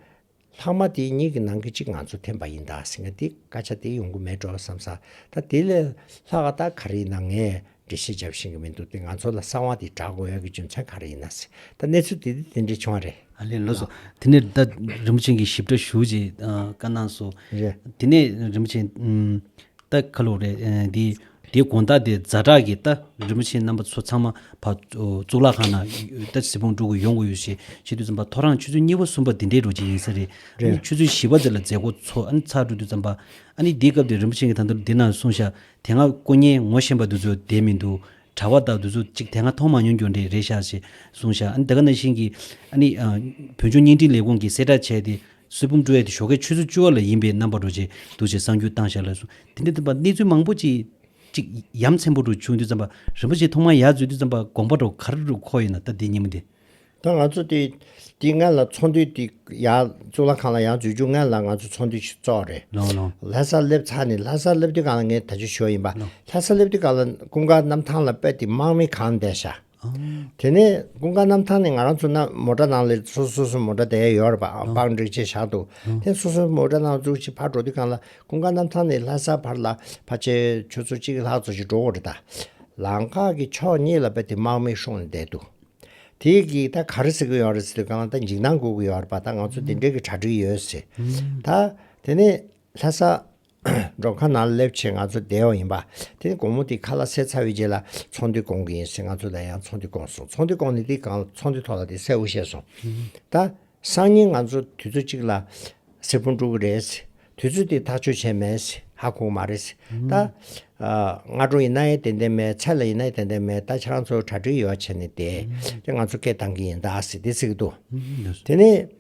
ལྷག་མ་དེ་གཉིས་ཀྱི་ནང་གི་གཅིག་ང་ཚོ་འཐེན་པ་ཡིན་ད་ཟེར་ང་དེ་སྐད་ཆ་དེ་ཡོང་གི་མེད་འགྲོ་བསམ་ས་ད་དེ་ལས་ལྷག་ཨ་ད་ག་རེ་ཡིན་ན་ངས་འགྲེལ་བཤད་བརྒྱབ་ཤེས་གི་མི་འདུག་དེ་ང་ཚོ་ལ་གསང་བ་དེ་བསྒྲགས་དགོས་ཡག་གི་རྒྱུ་མཚན་ག་རེ་ཡིན་ན་ཟེར་ད་གནས་ཚུལ་དེ་དེ་དེ་འདྲས་བྱུང་བ་རེད། ཨ་ལས་ལོས་སོ། དེ་ནས་ད་རིན་པོ་ཆེན་གྱི་ཞིབ་ཕྲ་ཞུ་ཅེས་བཀའ་གནང་སོ། རེད། དེ་ནས་རིན་པོ་ཆེན། ད་ཁ་ལོ་རེད། དེའི་དེའི་དགོངས་དག་དེ་རྫ་བྲག་གི་རྟ་རིན་པོ་ཆེ་རྣམ་པ་ཚོ་ཚང་མ་བ་གཙུག་ལག་ཁང་ན་རྟ་གཟིགས་སྤོང་སྒྲུབ་དགོས་ཡོང་དགོས་ཡོད་ཞེས་བཤད་དུས་བརྩམས་པ་ཐོ་རངས་ཆུ་ཚོད་གཉིས་པ་གསུམ་པ་འདི་འདྲའི་རོ་གཅིག་ཡིན་ས་རེད། རེད། ཆུ་ཚོད་བཞི་བ་དེ་ལ་མཛད་སྒོ་ཚོགས་ཨ་ནི་ཚར་གྲོལ་དུས་བརྩམས་པ། ཨ་ནི་འདིའི་སྐབས་དེར་རིན་པོ་ཆེ་གི་ཐང་དུ་འདི་ན་སོང་ཤག་དེ་སྔ་དཀོན་གཉེར་ངོ་ཤེས་པ་དེ་ཚོ་བསྡད་མི་འདུག་གྲྭ་བ་དག་དེ་ཚོ་གཅིག་དེ་སྔ་མཐོང་མ་མྱོང་རྒྱུ་འདྲ་རེད་ཤག་ཅེས་གསུངས་ཤག་ཨ་ནི་ད་ག་ན་བཞིན་གྱིས་ཨ་ནི་བོད་ལྗོངས་བརྙན་འཕྲིན་ལས་ཁུངས་ཀྱིས་གསལ་བསྒྲགས་བྱས་ཏེ་གསེར་བུམ་བཀྲུ་བའི་དེ་ཞོ་ཁའི་ཆུ་ཚོད་བཅུ་བ་ལ་ཡིན་པས་རྣམ་པར་རོལ་ཅིག་འདུ་བྱེད་བསང་རྒྱུའི་གཏང་ཞག་ལ་གསུངས། དེ་ནས་བསྟན་པ་གནས་ཚུལ་མང་པོ་ཅི། གཅིག། ཡམ་ཆེན་པོ་རུ་ཆུང་དུས་བརྩམས་པ། རིན་པོ་ཆེ་ཐོག་མར་ཡར་འཛུལ་དུས་བརྩམས་པ་དགོངས་པ་གྲོ་གར་རུ་ཁོག་ཡིན་ན་ལྟ་དེའི་ཉིན་མོ་འདི། ད་ང་ཚོ་དེ། དེ་སྔ་ལ་ཚོགས་འདུས་དེ། ཡར་གཙུག་ལག་ཁང་ལ་ཡར་འཛུལ་རྒྱུ་སྔ་ལ་ང་ཚོ་ཚོགས་འདུས་ཤིག་གཙོག་རེད། ལོང་ལོང། ལྷ་སར་སླེབས་ཚར་ནས་ལྷ་སར་སླེབས་དུས་གང་ལ་ངས་ད་ཆུ་ཞོ་ཡིན་པ། ལྷ་སར་སླེབས་དུས་གང་ལ་ཀུན་དགའ་གནམ་ཐང་ལ་དཔལ་དེ་དམག་མི་གང་འདས་ཞག། དེ་ནས་ཀུན་དགའ་གནམ་ཐང་ནས་ང་རང་ཚོ་རྣམས་མོ་ཏྲ་ནང་ལ་སོ་སོ་སོའི་མོ་ཏྲ་དེ་ཡོད་རེད་པའང་བག་འགྲེལ་བྱས་བཞག་འདུག་དེ་སོ་སོའི་མོ་ཏྲ་ནང་བཙུགས་ཤིང་ཕར་འགྲོ་དུས་གང་ལ་ཀུན་དགའ་གནམ་ཐང་ནས་ལྷ་སར་བར་ལ་ཕ་ཆེ་ཁྱོད་ཚོ་གཅིག་ལྷག་འཚོ་ཞིག་འགྲོ་འོང་རེད་ད། ལམ་ཁ་གི་ཕྱོགས་གཉིས་ལ་བལ་དེ་དམག་མིས་ཤོང་ནས་བསྡད་འདུག་དེ་གིས་ད་ག་རེ་ཟེར་གི་ཡོད་རེད་ཟེར་དུས་གང་ལ་ད་འཇིགས་སྣང་སྒུག་གི་ཡོད་རེད་པ་ད་ང་ཚོ་དེ་འབྲེལ་གྱི་གྲ་སྒྲིག་ཡོད་ཟེར། ད་དེ་ནས་ལྷ་ས་འགྲོ་ཁ་ན་སླེབས་ཆེད་ང་ཚོ་བསྡད་ཡོང་ཡིན་པ། དེ་ནི་དགོང་མོ་དེ་ཁ་ལ་སེར་ཚ་བའི་རྗེས་ལ་ཚོང་འདུས་སྐོང་གི་ཡིན་ཟེར་ང་ཚོ་ལ་ཡང་ཚོང་འདུས་སྐོང་སོང་ཚོང་འདུས་སྐོང་ནས་དེ་གང་ཚོང་འདུས་ཐོག་ལ་དེ་སེར་བོ་བཤད་སོང། ད། སང་ཉིན་ང་ཚོ་དུས་ཚོད་གཅིག་ལ། སེར་བུ་འགྲོ་གི་རེད། དུས་ཚོད་དེ་ཐག་གཅོད་བྱས་མེད། ཧ་གོ་གི་མ་རེད། ད། སྔ་དྲོ་ཡིན་ན་ཡང་དེ་འད་མེད་ཚལ་ལ་ཡིན་ན་ཡང་དེ་འད་མེད་ད་ཁྱེད་རང་ཚོ་གྲ་སྒྲིག་ཡོ་བྱས་ནས་བསྡད། དེ་ང་ཚོ་སྐད་བཏང་གི་ཡིན་ད་ཟེར་དེ་ཚིག་གི་འདུག། དེ་ནས།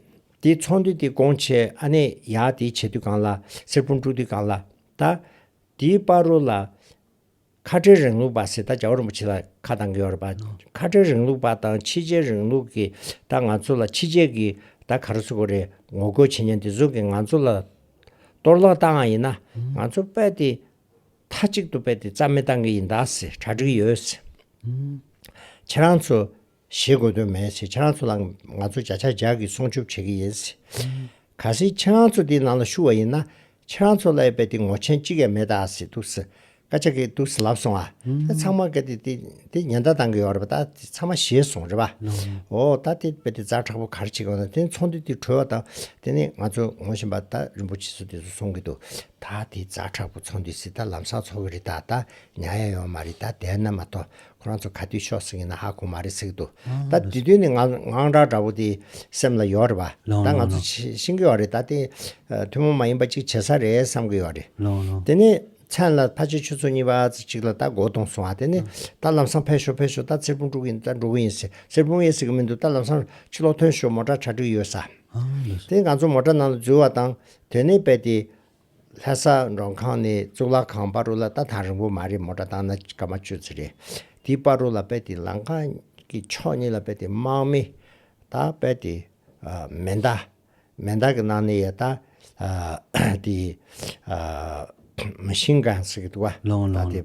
དེའི་ཚོང་དུས་དེ་དགོང་ཆེ་ཨ་ནེ་ཡག་དེའི་བྱེད་དུས་གང་ལ། སེར་སྤུངས་དཀྲུག་དུས་གང་ལ། ད། དེའི་དཔའ་རོ་ལ། ཁ་བྲལ་རིང་ལུགས་པ་ཟེར་ད་བྱ་བ་རིན་པོ་ཆེ་ལ་ཁ་གདང་གི་ཡོད་རེད་པ། ཁ་བྲལ་རིང་ལུགས་པ་དང་ཕྱི་རྒྱལ་རིང་ལུགས་ཀྱི་ད་ང་ཚོ་ལ་ཕྱི་རྒྱལ་གྱི་ད་ག་རེ་ཚོ་གོ་རེ་ངོ་རྒོལ་བྱེད་ཉན་དེ་ཚོ་གི་ང་ཚོ་ལ་གཏོར་བརླག་བཏང་ཨང་ཡིན་ན་ང་ཚོ་དཔལ་དེ་མཐའ་གཅིག་ཏུ་དཔལ་དེ་རྩ་མེད་བཏང་གི་ཡིན་ད་ཟེར་གྲ་སྒྲིག་ཡོད། ཁྱེད་རང་ཚོ་ཞེས་དགོས་དོན་མེད་ཟེར་ཆང་ཚོ་ལ་ང་ཚོ་བྱ་ཆག་ཇག་གིས་སྲུང་སྐྱོབ་བྱེད་ཀྱི་ཡིན་ཟེར། གལ་སྲིད་ཆང་ཚོ་དེའི་ནང་ལ་ཞུགས་བ་ཡིན་ན་ཆང་ཚོ་ལ་ཡོད་པའི་དེ་ངོ་ཆེན་གཅིག་ཡ་མེད་ད་ཟེར་འདུག་ཟེར་སྐད་ཆ་གི་འདུག་ཟེར་ལབ་སོང་ཨ། དེ་ཚང་མ་གལ་ཏེ་དེ་ཉེན་བརྡ་གཏང་གི་ཡོད་རེད་པ་ད་དེ་ཚང་མ་ཤེས་སོང་རེད་པ། འོ་ད་དེ་རྦད་དེ་རྫ་དྲག་པོ་གར་བྱེད་ཀྱི་ཡོད་ན་དེ་ཚོང་འདུས་དེ་གྲོལ་བ་དང་དེ་ནས་ང་ཚོ་ངོ་བཞིན་པ་ད་རིན་པོ་ཆེ་ཚོ་དེ་ཚོ་སོང་གི་འདུག་ད་དེ་རྫ་དྲག་པོ་ཚོང་འདུས་སེ་ད་ལམ་སང་འཚོག་གི་རེད་ད་ད་ཉག་ཡ་ཡོང་མ་རེད་ད་བསྡད་ན་མ་གཏོགས་ཁོ་རང་ཚོ་ག་དུས་ཤོག་ཟེར་གྱི་ན་ཧ་གོ་མ་རེད་ཟེར་གྱི་འདུག་ད་དུས་དུས་ནས་ངང་སྒྲ་འདྲ་བོ་དེ་སེམས་ལ་ཡོད་རེད་པ་ད་ང་ཚོ་ཤེས་ཀྱི་ཡོད་རེད་ད་དེ་ཐུན་མོང་མ་ཡིན་པ་ཅིག་བྱེད་ས་རེད་བསམ་གྱི་ཡོད་རེད་དེ་ནས་མཚན་ལ་ཕ་ཆེ་ཁྱོད་ཚོ་གཉིས་པ་ཚོ་གཅིག་ལ་ད་སྒོ་གཏོང་སོང་ང་དེ་ནས་ད་ལམ་སང་ཕེབས་ཤོག་ཕེབས་ཤོག་ད་ཚེར་ཕུང་དཀྲུག་གི་ད་འགྲོ་གི་ཡིན་ཟེར་ཚེར་ཕུང་ཡེ་ཟེར་གྱི་མི་འདུག་ད་ལམ་སང་ཕྱི་ལོག་ཐོན་ཤོག་མོ་དྲ་ཆ་དྲུག་ཡོད་ས་དེ་ནས་ང་ཚོ་མོ་དྲ་ནང་དུ་འཛུལ་བ་དང་དོན་གནས་པས་དེ་ལྷ་ས་མགྲོན་ཁང་ནས་གཙུག་ལག་ཁང་དཔའ་རོ་ལ་ལྟ་སྟངས་རིང་པོ་མ་རེད་མོ་སྒྲ་གདངས་ན་སྐར་མ་གཅོད་ཚུལ་རེད། དེའི་དཔའ་རོ་ལ་དཔལ་དེའི་ལམ་ཁ་གི་ཕྱོགས་གཉིས་ལ་དཔལ་དེའི་དམག་མི་དང་དཔལ་དེའི་མེ་མདའ། མེ་མདའ་གི་ནང་ནས་ཡེ་ད་དེའི་མི་ཤིང་གང་ཟེར་གི་འདུག་བ། ལོང་ལོང།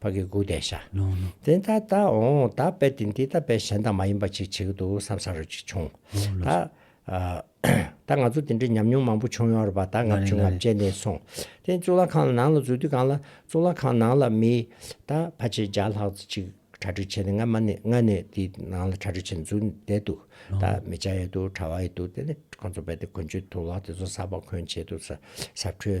བ་གི་དགུག་བཟླས་བྱ། དེ་ལྟར་བཟླ་འོང་བཟླ་བས་ཏེ་འདི་བཟླ་བས་གཞན་དག་མ་ཡིན་པ་ཅིག་བྱེད་ཀྱི་འདུག་བསམ་བསམ་རོ་ཅིག་བྱུང། ད་ང་ཚོ་དེ་འདྲའི་ཉམས་མྱོང་མང་པོ་བྱུང་ཡོང་རེད་པ་ད་ངབ་བྱུང་ངབ་བྱས་ནས་སོང། དེ་གཙུག་ལག་ཁང་ལ་ནང་ལ་འཛུལ་དུས་གང་ལ་གཙུག་ལག་ཁང་ནང་ལ་མི་ད་ཕ་ཆེ་བརྒྱ་ལྷག་ཅིག་གྲ་སྒྲིག་བྱས་ནས་ང་མ་ནི་ང་ནི་དེ་ནང་ལ་གྲ་སྒྲིག་བྱས་ནས་འཛུལ་བསྡད་འདུག་ད་མི་བྱ་ཡི་འདུག་གྲ་བ་ཡི་འདུག་དེ་ནས་ཁོང་ཚོ་བས་ཏེ་གོན་ཆུ་དུག་ལག་དེ་ཚོ་ཟ་བ་གོན་བྱས་འདུག་ཟབ་འཕྲུལ་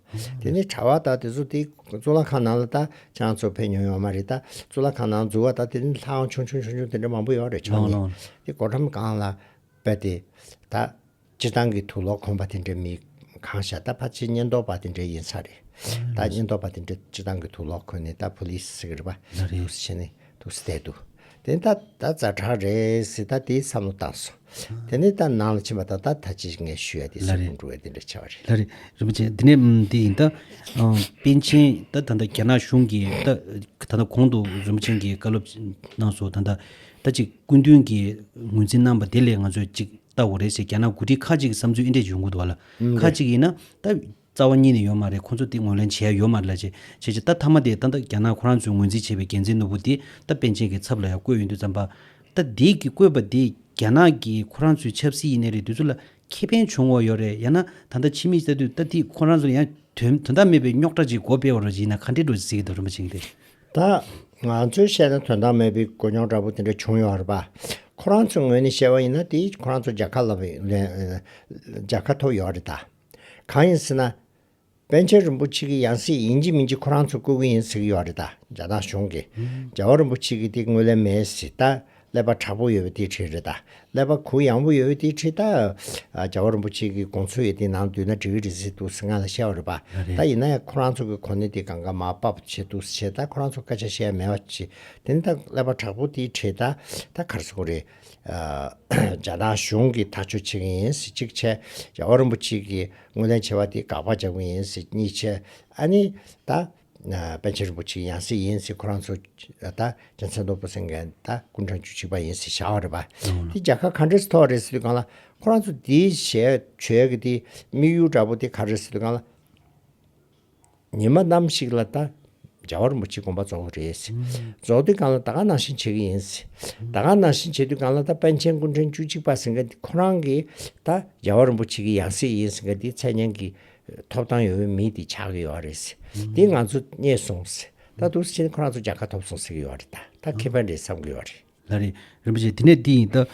དེ་ནས་གྲྭ་བ་དག་དེ་ཚོ་དེ་གཙུག་ལག་ཁང་ནང་ལ་ད་ཅང་ཚོ་ཕེབས་མྱོང་ཡོད་མ་རེད་ད། གཙུག་ལག་ཁང་ནང་འཛུལ་བ་དག་དེ་ནས་ལྷའང་ཆུང་ཆུང་ཆུང་ཆུང་དེ་འདྲ་མང་པོ་ཡོད་རེད་བྱུང་ནས། དེ་སྒོ་འགྲམ་སྒང་ལ་བས་ཏེ། ད། སྤྱི་བཏང་གི་ཐུགས་ལོག་ཁོང་པ་དེ་འདྲ་མི། གང་ཤ་ད་ཕ་ཆེ་སྙན་རྡོར་པ་དེ་འདྲ་ཡིན་ས་རེད། ད་སྙན་རྡོར་པ་དེ་འདྲ་སྤྱི་བཏང་གི་ཐུགས་ལོག་ཁོ་ནས་ད་བྷུ་ལི་སི་ཟེར་གི་རེད་པ། བྷུ་ལི་སི་ཟེར་ནས། ཐུགས་སྲས་བསྟན་འདུག་དེ་ནས་ད་ད་རྫ་བྲག་རེད་ཟེར་ད་དེའི་བསམ་བློ་བཏང་སོང། དེ་ནས་ད་ནང་ལ་ཕྱིན་པ་ད་ད་ད་ཅི་ཞིག་ངས་ཞུས་ཡ་དེ་སེམས་ཁུང་འགྲོ་བས་དེ་འདྲ་བྱས་བ་རེད། ལ་རེད་རིན་པོ་ཆེ་དེ་ནས་དེ་ཡིན་ད། པན་ཆེན་ད་ད་རྒྱ་ནག་གཞུང་གིས་ད་ད་ད་གོང་དུ་རིན་པོ་ཆེན་གྱིས་བཀའ་སློབ་གནང་སོང་ད་ད་ད་ཅིག་སྐུ་མདུན་གྱིས་ངོས་འཛིན་གནང་བ་དེ་ལས་ང་ཚོས་ཅིག་ལྟ་བ་རེད་ཟེར་རྒྱ་ནག་འགོ་ཁྲིད་ཁ་ཅིག་གི་བསམ་ཚུལ་ཨེ་འདྲས་བྱུང་གོ་ད་བ་ལ། ཁ་ཅིག་ཡིན་ན་ད། རྩ་བ་གཉིས་ནས་ཡོད་མ་རེད་ཁོང་ཚོ་དེ་ངོས་ལེན་བྱས་ཡོད་མ་རེད་ལ་བྱས་བྱས་བྱས་ད་ཐ་མ་དེ་ད་ད་རྒྱ་ནག་ཁོ་རང་ཚོས་ངོས་འཛིན་བྱས་པའི་རྒྱལ་མཚན་ནོར་བུ་དེ་ད་པན་ཆེན་གྱི་ཚབ་ལ་ཡང་བཀོད་ཡོད་འདུག་བརྩམས་པ། ད་དེ་གི་བཀོད་པ་དེ་རྒྱ་ནག་གིས་ཁོ་རང་ཚོའི་ཆབ་སྲིད་ཡིན་ནའི་རེད་དུས་ཚོད་ལ་ཁེ་ཕན་བྱུང་བ་ཡོད་རེད་ཡང་ན་ད་ད་ཕྱི་མིག་བལྟ་དུས་ད་དེ་ཁོ་རང་ཚོ་ཡང་དོན་དོན་དག་མེད་པའི་རྙོག་དྲ་ཅིག་སྒོ་སྤེལ་བ་རོ་ཡིན་ན་ག་འདྲེ་འགྲོ་ཟེར་གྱི་འདུག་རིན་པོ་ཆེ་འདི། ད་ང་ཚོས་བཤད་ན་དོན་དག་མེད་པའི་སྒོ་རྙོག་དྲ་པོ་དེ་འདྲ་བྱུང་ཡོད་རེད་པ། ཁོ་རང་ཚོའི་ངོས་ནས་བཤད་པ་ཡིན་ན་དེ་ཁོ་རང་ཚོ་རྒྱལ་ཁ་ལབ་རྒྱལ་ཁ་ཐོབ་ཡོད་རེད་ད། གང་ཡིན་ཟེར་ན། པན་ཆེན་རིན་པོ་ཆེ་གི་ཡང་སྲིད་ཡིན་གྱི་མིན་གྱི་ཁོ་རང་ཚོ་བསྐོ་གི་ཡིན་ཟེར་གྱི་ཡོད་རེད་ད་རྒྱ་ནག་གཞུང་གི། རྒྱལ་བ་རིན་པོ་ཆེ་གི་དེ་དངུལ་ལེན་མེད་ཟེར་ད། ཀླད་པ་དྲག་པོ་ཡོད་པའི་དེའི་ཁྲིད་རེད་ད། ཀླད་པ་གུ་ཡངས་པོ་ཡོད་པའི་དེའི་ཁྲིད་ད། རྒྱལ་བ་རིན་པོ་ཆེ་གི་དགོངས་ཚུལ་ཡོད་དེ་ནང་བསྡུས་ན་འགྲིག་གི་རེད་ཟེར་འདུག་ཟེར་ང་ལ་བཤད་པ་རེད་པ། ད་ཡིན་ན་ཡང་ཁོ་རང་ཚོ་གི་གོ་གནས་དེ་གང་ག་མ་སྤབ་བྱས་འདུག་ཟེར་ད་ཁོ་རང་ཚོ་སྐད་ཆ་བཤད་ཡ་མེད་པ་ཅི། དེ་ནི་ད་ཀླད་པ་དྲག་པོ་དེའི་ཁྲིད་ད། ད་གར་སོང་རེད། རྒྱ་ནག་གཞུང་གིས་ཐག་གཅོད་བྱེད་མཁན་ཡིན་སྲིད་གཅིག་ཆད་རྒྱལ་བ་རིན་པོ་ཆེ་གིས་དངོས་ལེན་བྱས་པ་དེ་དགག་པ་རྒྱག་མཁན་ཡིན་སྲིད་གཉིས་ཆད་ཨ་ནི་ད་པན་ཆེན་རིན་པོ་ཆེ་ཡང་སྲིད་ཡིན་སྲིད་ཁོ་རང་ཚོ་ད་རྒྱལ་མཚན་སྟོང་པོ་ཟེར་མཁན་ད་ཀུན་དྲང་བཅུ་གཅིག་པ་ཡིན་སྲིད་བྱ་བ་རེད་པ་དེ་རྒྱལ་ཁ་ག་འདྲེ་སི་ཐོག་རེད་སྲིད་གང་ལ་ཁོ་རང་ཚོ་དེའི་བྱས་ཆོས་གི་དེ་དམིགས་ཡུལ་འདྲ་པོ་དེ་ག་རེད་སྲིད་གང་ལ། ཉི་མ་ནམ་ཞིག་ལ་ད་རྒྱ་བ་རིན་པོ་ཆེ་དགོན་པ་རྫོགས་ཀྱི་རེད། རྫོགས་དུས་གང་ལ་ད་ག་ནང་བཞིན་བྱེད་ཀྱི་ཡིན། ད་ག་ནང་བཞིན་བྱེད་དུས་གང་ལ་ད་པན་ཆེན་ཀུན་ཕྲན་བཅུ་གཅིག་པ་ཟེར་འགའ་འདི་ཁོ་རང་གི་ད་རྒྱ་བ་རིན་པོ་ཆེ་གི་ཡང་སྲིད་ཡིན་ཟེར་འགའ་འདི་མཚན་སྙན་གི་ཐོབ་ཐང་ཡོད་པའི་མི་འདི་ཆགས་ཀྱི་ཡོད་རེད། འདི་ང་ཚོ་རྙེད་སོང། ད་དུ་ཕྱིན་ཁོ་རང་ཚོ་རྒྱལ་ཁ་ཐོབ་སོང་ཟེར་གྱི་ཡོད་རེད་ད་ད་ཁེ་ཕན་རེད་བསམ་གྱི་ཡོད་རེད། ལ་རེད། རིན་པོ་ཆེ་དེ་ནས་འདི་ཡིན་ད།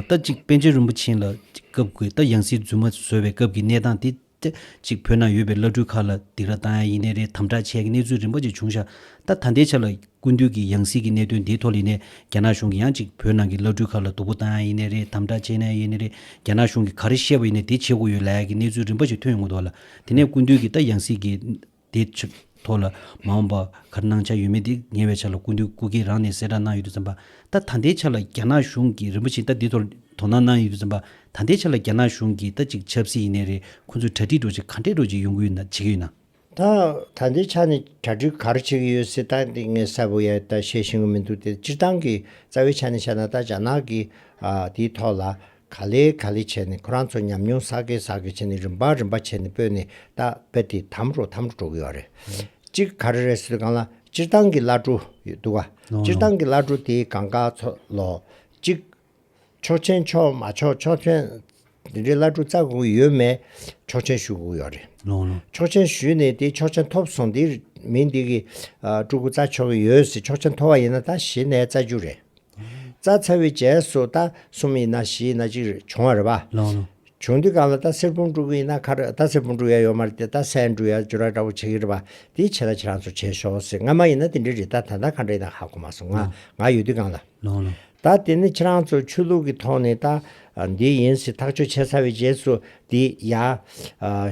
ད་ཅིག་པན་ཆེན་རིན་པོ་ཆེན་ལ་སྐབས་དགོས་ད་ཡང་སྲིད་རྫུན་མ་བཟོས་པའི་སྐབས་ཀྱི་གནས་སྟངས་དེ་ཏེ། གཅིག་བོད་ནང་ཡོད་པའི་བླ་སྤྲུལ་ཁག་ལ་སྡིགས་ར་བཏང་ཡ་ཡིན་ནའི་རེད་དམ་དྲག་ཆས་ཀྱི་གནས་ཚུལ་རིམ་པ་ཅིག་བྱུང་ཤག་ད་ད་ལྟའི་ཆ་ལ་ཀུན་འདུས་ཀྱི་ཡང་སྲིད་ཀྱི་གནས་དོན་འདིའི་ཐོག་ལི་ནས་རྒྱ་ནག་གཞུང་གི་ཡང་གཅིག་བོད་ནང་གི་བླ་སྤྲུལ་ཁག་ལ་སྡུག་པོ་བཏང་ཡ་ཡིན་ནའི་རེད་དམ་དྲག་ཆས་ནའི་ཡིན་ནའི་རེད་རྒྱ་ནག་གཞུང་གི་ག་རེ་བཤད་པ་ཡིན་ནའི་དེ་བྱེད་དགོས་ཡོད་ལའི་ཀྱི་གནས་ཚུལ་རིམ་པ་ཅིག་ཐོན་ཡོང་གི་འདུག་ལ་དེ་ནས་ཀུན་འདུས་ཀྱི་ད་ཡང་སྲིད་ཀྱི། དེ་ཕྱིར། ཐོག་ལ། མ་འོངས་པ། གར་སྣང་ཆ་ཡོད་མེད་དེ་ཉེ་བའི་ཆ་ལ་སྐུ་མདུན་སྐུ་སྒེར་རང་ནས་གསལ་བསྒྲགས་གནང་ཡོད་དུ་འཛིན་པ། ད་ད་ལྟའི་ཆ་ལ་རྒྱ་ནག་གཞུང་གིས་རིན་པོ་ཆེ་ད་འདི་ཐོག་དོ་སྣང་གནང་ཡོད་དུ་འཛིན་པ། ད་ལྟའི་ཆ་ལ་རྒྱ་ནག་གཞུང་གིས་ད་ཅིག་ཆབ་སྲིད་ཡིན་ནའི་རེད་ཁོ་ཚོས་གྲ་སྒྲིག་འགྲོ་ཆེད་ག་འདྲས་འགྲོ་ཆེད་ཡོང་གི་ཡོད་ན་བྱེད་ཀྱི་ཡོད་ན། ད་ད་ལྟའི་ཆ་ནས་གྲ་སྒྲིག་གར་བྱེད་ཀྱི་ཡོད་སྲིད་ད་དེ་ངས་གསལ་པོ་ཡང་ད་བཤད་ཤེས་ཀྱི་མི་འདུག་དེ་སྤྱིར་བཏང་གི་རྩ་བའི་ཆ་ནས་བཤད་ན་ད་རྒྱ་ནག་གིས་དེའི་ཐོག་ལ་ག་ལེ་ག་ལེ་བྱས་ནས་ཁོ་རང་ཚོ་ཉམས་མྱོང་ཟག་གི་ཟག་གི་བྱས་ནས་རིམ་པ་རིམ་པ་བྱས་ནས་སྤོས་ནས་ད་སྤེ་དེ་དམ་རོ་དམ་རོ་འགྲོ་གི་ཡོད་རེད། གཅིག་ག་རེ་རེད་ཟེར་གང་ལ་སྤྱིར་བཏང་གི་བླ་སྤྲུ་ཡོད་འདུག་ག་སྤྱིར་བཏང་གི་བླ་སྤྲུ་དེ་གང་ག་ཚོ་ལོ། གཅིག། ཆོག་ཆེན་ཆོག་མ་ཆོག་ཆོག་ཆེན་དེ་འདྲའི་བླ་སྤྲུ་རྩ་དགོས་གི་ཡོད་མེད་ཆོག་ཆེན་ཞུ་གི་ཡོད་རེད། ཆོག་ཆེན་ཞུས་ནས་དེ་ཆོག་ཆེན་ཐོབ་སོང་དེ་མི་འདི་གི་སྤྲུ་གུ་རྩ་ཆོག་གི་ཡོད་ཟེར་ཆོག་ཆེན་ཐོབ་བ་ཡིན་ན་ད་གཞི་ནས་རྩ་རྒྱུ་རེད། རྩ་ཚ་བའི་རྗེས་སུ་རྟ་གསུམ་ཡིན་ན་བཞི་ཡིན་ན་གཅིག་རེ་བྱུང་བ་རེད་པ། བྱུང་དུས་གང་ལ་རྟ་སེར་བུང་དཀྲུག་གི་ཡིན་ན་ཁར་རྟ་སེར་བུང་དཀྲུག་ཡ་ཡོད་མ་རེད་དེ་རྟ་སེན་དཀྲུག་ཡ་འཇུ་ར་འདྲ་བོ་བྱེད་ཀྱི་རེད་པ། དེའི་ཆེད་ད་ཁྱེད་རང་ཚོ་བྱེད་ཞོག་ཟེར་ང་མ་ཡིན་ན་དེ་འདྲའི་རི་རྟ་ད་ལྟ་ག་འདྲ་ཡིན་ན་ཧ་གོ་མ་སོང་ང་ང་ཡོད་དུས་གང་ལ། ད་དེ་ནི་ཁྱེད་རང་ཚོ་ཆོས་ལུགས་ཀྱི་ཐོག་ནས་རྟ་འདི་ཡིན་ཟེར་ཐག་གཅོད་བྱས་ཚར་བའི་རྗེས་སུ་འདི་ཡ།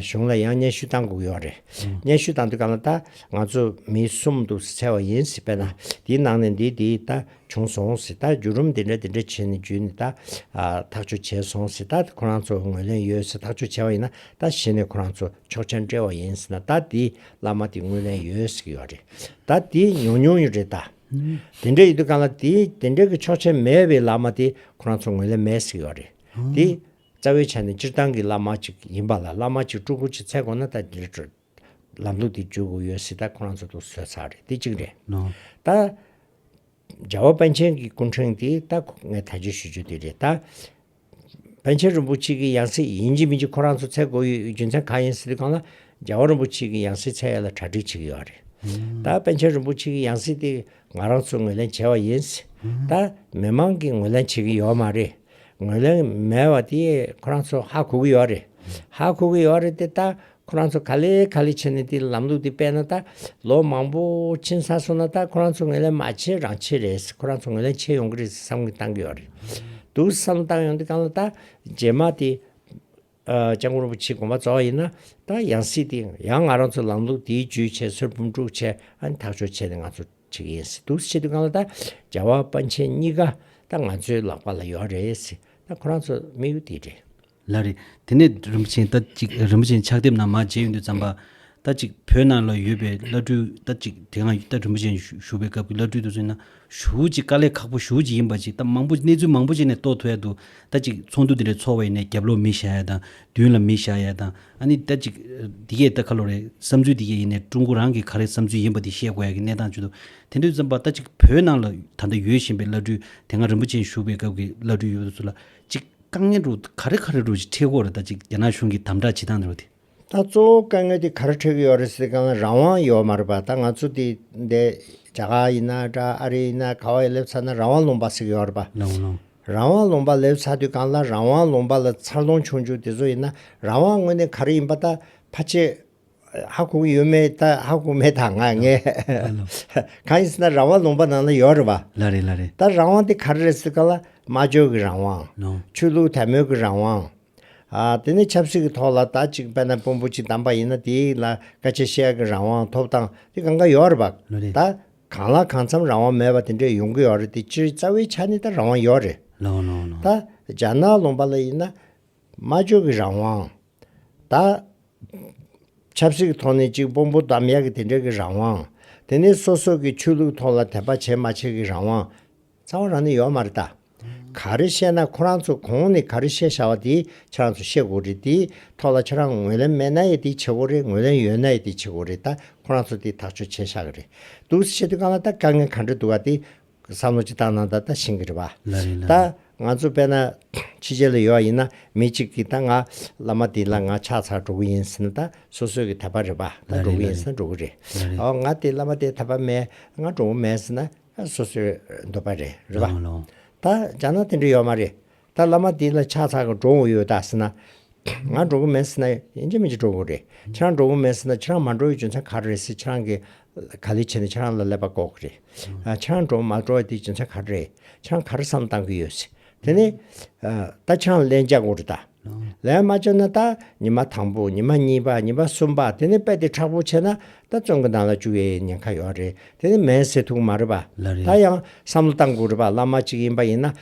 གཞུང་ལ་ཡང་སྙན་ཞུ་བཏང་དགོས་ཀྱི་ཡོད་རེད། སྙན་ཞུ་བཏང་དུས་གང་ལ་ད་ང་ཚོ་མི་གསུམ་འདུག་ཟེར་བྱས་བ་ཡིན་ཟེར་བས་ན་དེའི་ནང་ནས་འདི་འདི་ད་བྱུང་སོང་ཟེར་ད་བརྒྱུད་རུམ་འདི་འདྲ་འདི་འདྲ་བྱས་ནས་བརྒྱུད་ནས་ད་ཐག་གཅོད་བྱས་སོང་ཟེར་ད་ཁོ་རང་ཚོ་ངོས་ལེན་ཡོད་ཟེར་ཐག་གཅོད་བྱས་བ་ཡིན་ན་ད་གཞི་ནས་ཁོ་རང་ཚོ་ཕྱོགས་ཆ་འབྲེལ་བ་ཡིན་ཟེར་ན་ད་འདི་བླ་མ་འདི་ངོས་ལེན་ཡོད་ཟེར་གྱི་ཡོད་རེད། ད་འདི་ཉོ་མྱོང་ཡོད་རེད་ད། དེ་འདྲ་ཡོད་དུས་གང་ལ་འདི་དེ་འདྲ་གི་ཕྱོགས་ཆ་མེད་བའི་བླ་མ་འདི་ཁོ་རང་ཚོ་ངོས་ལེན་མེད་ཟེར་གྱི་ཡོད་རེད། འདི། རྩ་བའི་ཆ་ནས་སྤྱིར་བཏང་གི་བླ་མ་གཅིག་ཡིན་པ་ལ་བླ་མ་གཅིག་སྤྲུལ་སྐུ་གཅིག་ཚད་དགོངས་ན་ད་འདིར་བགྲོད། ལམ་ལུགས་འདི་བརྗོད་དགོས་ཡོད་སྲིད་ད་ཁོ་རང་ཚོ་དུ་ཟོས་ཚར་རེད་འདི་གཅིག་རེད། ད། རྒྱལ་བ་པཎ་ཆེན་གྱི་སྐུ་འཕྲེང་འདི་ད་ཁོ་ངས་ད་བརྗོད་ཞུ་རྒྱུ་འདི་རེད་ད། པཎ་ཆེན་རིན་པོ་ཆེ་གི་ཡང་སྲིད་ཡིན་གྱི་མིན་གྱི་ཁོ་རང་ཚོ་ཚད་དགོས་ཡོད་ཡོད་རྒྱུ་མཚན་གང་ཡིན་སྲིད་དེ་གང་ལ། རྒྱལ་བ་རིན་པོ་ཆེ་གི་ཡང་སྲིད་ཚད་ཡོད་ལ་གྲ་སྒྲིག་བྱེད་ཀྱི་ཡོད་རེད། ད་པཎ་ཆེན་རིན་པོ་ཆེ་གི་ཡང་སྲིད་དེ་ང་རང་ཚོས་ངོས་ལེན་བྱས་བ་ཡིན། ད། མི་མང་གིས་ངོས་ལེན་བྱེད་ཀྱི་ཡོད་མ་རེད། ངོས་ལེན་མེད་བ་དེ་ཁོ་རང་ཚོ་ཧ་གོ་གི་ཡོད་རེད། ཧ་གོ་གི་ཡོད་རེད་དེ་ད་ཁོ་རང་ཚོ་ག་ལེ་ག་ལེ་བྱས་ནས་དེ་ལམ་ལུགས་དེ་སྤེལ་ན་ད་ལོ་མང་པོ་ཕྱིན་ས་སོང་ན་ད་ཁོ་རང་ཚོ་ངོས་ལེན་མ་བྱེད་རང་བྱེད་རེད་ཁོ་རང་ཚོ་ངོས་ལེན་བྱེད་ཡོང་གི་རེད་བསམ་གི་བཏང་གི་ཡོད་རེད་འདུག་བསམ་བཏང་ཡོང་དེ་གང་ལ་ད་རྗེས་མ་དེ་ལྕང་སྐུ་རིན་པོ་ཆེའི་དགོངས་པ་རྩ་བ་ཡིན་ན། ད་ཡང་སྲིད་དེ་ཡང་ང་རང་ཚོ་ལམ་ལུགས་འདིའི་བརྒྱུད་བྱེད་སྲོལ་འབུམ་དཀྲུག་བྱེད་ཨ་ཐག་གཅོད་བྱེད་དེ་ང་ཚོ་བྱེད་ཀྱི་ཡིན་སྲིད་འདུག་ཆེད་དུ་ང་ལ་ད་རྒྱ་བ་དཔའ་མཆན་གཉིས་ཀ་ད་ང་ཚོའི་ལག་པ་ལ་ཡོད་རེད་སྲིད་ད་ཁོ་རང་ཚོ་དམིགས་ཡུལ་འདི་རེད། ལ་རེད། དེ་ནས་རིན་པོ་ཆེ་ད་ཅིག་རིན་པོ་ཆེ་ཕྱག་དེབ་ནང་མ་མཇལ་ཡོང་དུས་བརྩམས་པ། ལྟ་གཅིག་བོད་ནང་ལ་ཡོད་པའི་བླ་སྤྲུལ་ལྟ་གཅིག་དེ་སྔ་རྟ་དྲུང་བུ་ཅན་བཞུགས་པའི་སྐབས་ཀྱི་བླ་སྤྲུལ་དུ་མཚོན་ན་ཞུ་བོད་ཀྱི་དཀའ་ལས་ཁག་པོ་ཞུ་བོད་ཀྱི་ཡིན་པ་ཅིག་ལྟ་མང་པོ་གནས་ཚུལ་མང་པོ་ཅིག་ནས་རྟོགས་ཐུབ་ཡ་འདུག་ལྟ་གཅིག་ཚོགས་འདུ་དེ་འདྲའི་ཚོགས་བའི་ནས་རྒྱབ་ལོག་མི་བཞག་ཡ་དང་མདུན་ལ་མི་བཞག་ཡ་དང་ཨ་ནི་ལྟ་གཅིག་འདི་གས་ལྟ་ཁ་ལོ་རེད་བསམ་ཚུལ་འདི་གས་ཡིན་ནས་ཀྲུང་གོ་རང་གི་ག་རེ་བསམ་ཚུལ་ཡིན་པ་དེ་བཤད་དགོས་ཡ་གི་གནས་སྟངས་བྱུང་འདུག་དེ་འདྲའི་བསམ་པ་ལྟ་གཅིག་བོད་ནང་ལ་ད་ལྟ་ཡོད་བཞིན་པའི་བླ་སྤྲུལ་དེ་སྔ་རིན་པོ་ཆེན་བཞུགས་པའི་སྐབས་ཀྱི་བླ་སྤྲུལ་ཡོད་པ་ཚུ་ལ་གཅིག་དཀའ་ངལ་རུ་ག་རེ་ག་རེ་རུ་ཆེད་ཁོག་རེ་ལྟ་གཅིག་རྒྱ་ནག་གཞུང་གི་དམ་དྲག་བྱེད་སྟངས་དེ་རུ་དེ། ད་གཙོ་བོ་དཀའ་ངལ་དེ་གར་འཕྲད་ཀྱི་ཡོད་རེད་ཟེར་གང་ལ་རང་དབང་ཡོད་མ་རེད་པ་ད་ང་ཚོ་དེ་འད་རྒྱ་གར་ཡིན་ན་འདྲ་ཨ་རི་ཡིན་ན་ག་བ་ཡི་སླེབས་ཚར་ན་རང་དབང་ལུང་པ་ཟེར་གྱི་ཡོད་རེད་པ། ལོང་ལོང། རང་དབང་ལུང་པ་ལེབས་ཚར་དུས་གང་ལ་རང་དབང་ལུང་པ་ལ་འཚར་ལོང་བྱུང་བྱུང་དེ་ཚོ་ཡིན་ན་རང་དབང་དངོས་གནས་ག་རེ་ཡིན་པ་ད་ཕ་ཆད་ཧ་གོ་གི་ཡོད་མེད་ད་ཧ་གོ་མེད་ད་ང་ངས་ལོང་ལོང། གང་ཡིན་ཟེར་ན་རང་དབང་ལུང་པ་ནང་ལ་ཡོད་རེད་པ། ལ་རེད་ལ་རེད། ད་རང་དབང་དེ་ག་རེ་རེད་ཟེར་གང་ལ་སྨྲ་བརྗོད་ཀྱི་རང་དབང། ལོང། ཆོས་ལུགས་དད་མོས་ཀྱི་རང་དབང། དེ་ནས་ཆབ་སྲིད་ཀྱི་ཐོག་ལ་ད་ཅིག་པད་ན་པོན་པོ་ཆེ་བདམས་པ་ཡིན་ན་དེ་ལ་སྐད་ཆ་བཤད་ཀྱི་རང་དབང་ཐོབ་སྟངས་དེ་གང་ག་ཡོད་རེད་བ། ད་གང་ལ་གང་འཚམ་རང་དབང་མེད་པ་དེ་འདྲས་ཡོང་གི་ཡོད་རེད་དེ་སྤྱིར་རྩ་བའི་ཆ་ནས་ད་རང་དབང་ཡོད་རེད། ད་རྒྱ་ནག་ལུང་པ་ལ་ཡིན་ན། སྨྲ་བརྗོད་ཀྱི་རང་དབང། ད། ཆབ་སྲིད་ཀྱི་ཐོག་ནས་ཅིག་པོན་པོ་བདམས་ཡག་གི་དེ་འདྲས་ཀྱི་རང་དབང། དེ་ནས་སོ་སོ་ཀྱི་ཆོས་ལུགས་ཐོག་ལ་དད་པ་བྱེད་མ་བྱེད་ཀྱི་རང་དབང། ཚ་བ་རང་ནི་ཡོག་མ་རེད་ད། ག་རེ་བཤད་ན་ཁོ་རང་ཚོ་གོང་ནས་ག་རེ་བཤད་ཤ་བ་དེ་ཁྱེད་རང་ཚོ་བཤད་དགོས་རེད་དེ་ཐོག་ལ་ཁྱེད་རང་ངོས་ལེན་མེད་ན་ཡེ་དེ་བྱེད་དགོས་རེད་ངོས་ལེན་ཡོད་ན་ཡེ་དེ་བྱེད་དགོས་རེད་ད་ཁོ་རང་ཚོ་དེ་ཐག་གཅོད་བྱེད་ཤ་གི་རེད་འདུག་བཤད་དུས་གང་ལ་ད་དཀའ་ངལ་ག་འདྲ་འདུག་ག་དེ་བསམ་བློ་ཅི་ལྟར་གནང་ད་ད་ཤེས་གི་རེད་བ། ད་ང་ཚོ་དཔལ་ན་ཕྱི་རྒྱལ་ལ་ཡོད་བ་ཡིན་ན་མི་གཅིག་གིས་ད་ང་བླ་མ་དེ་ལ་ང་ཕྱག་ཚར་འགྲོ་གི་ཡིན་ཟེར་ན་ད་སོ་སོས་གི་ད་པ་རེད་བ་ད་འགྲོ་གི་ཡིན་ཟེར་ན་འགྲོ་གི་རེད། ཨོ་ང་དེ་བླ་མ་དེ་ད་པ་མེད་ང་འགྲོ་གི་མེད་ཟེར་ན། སོ་སོའི་འདོད་པ་རེད་རེད་པ། ད་ཅག་ན་དེ་འདྲ་ཡོད་མ་རེད། ད་བླ་མ་དེ་ལ་ཕྱག་འཚལ་ག་འགྲོ་འོང་ཡོད་ད་ཟེར་ན། ང་འགྲོ་གི་མེད་ཟེར་ན་ཡིན་གྱི་མིན་གྱི་འགྲོ་གི་རེད། ཁྱེད་རང་འགྲོ་གི་མེད་ཟེར་ན་ཁྱེད་རང་མ་འགྲོ་བའི་རྒྱུ་མཚན་ག་རེ་རེད་ཟེར་ཁྱེད་རང་གི་ག་ལས་བྱས་ནས་ཁྱེད་རང་ལ་ཀླད་པ་འགོག་གི་རེད། ཁྱེད་རང་འགྲོ་མ་འགྲོ་བའི་དེ་རྒྱུ་མཚན་ག་རེ་རེད། ཁྱེད་རང་ག་རེ་བསམ་བཏང་གི་ཡོད་ཟེར། དེ་ནས་རྟ་ཆང་བླན་བཅའ་ངོ་རུ་བལྟ། བླན་མ་བཅའ་ན་རྟ་ཉི་མ་དང་པོ་ཉི་མ་གཉིས་པ་ཉི་མ་གསུམ་པ་དེ་ནས་དཔལ་དེ་ཁྲག་པོ་ཆེ་ན་རྟ་བཙོན་གྱི་ནང་ལ་བཅུག་ཡེ་ཉེན་ཁ་ཡོད་རེད་དེ་ནས་མེན་སེ་ཐུག་མ་རེད་པ་ད་ཡང་བསམ་བློ་བཏང་དགོས་རེད་པ་བླ་མ་གཅིག་ཡིན་པ་ཡིན་ན་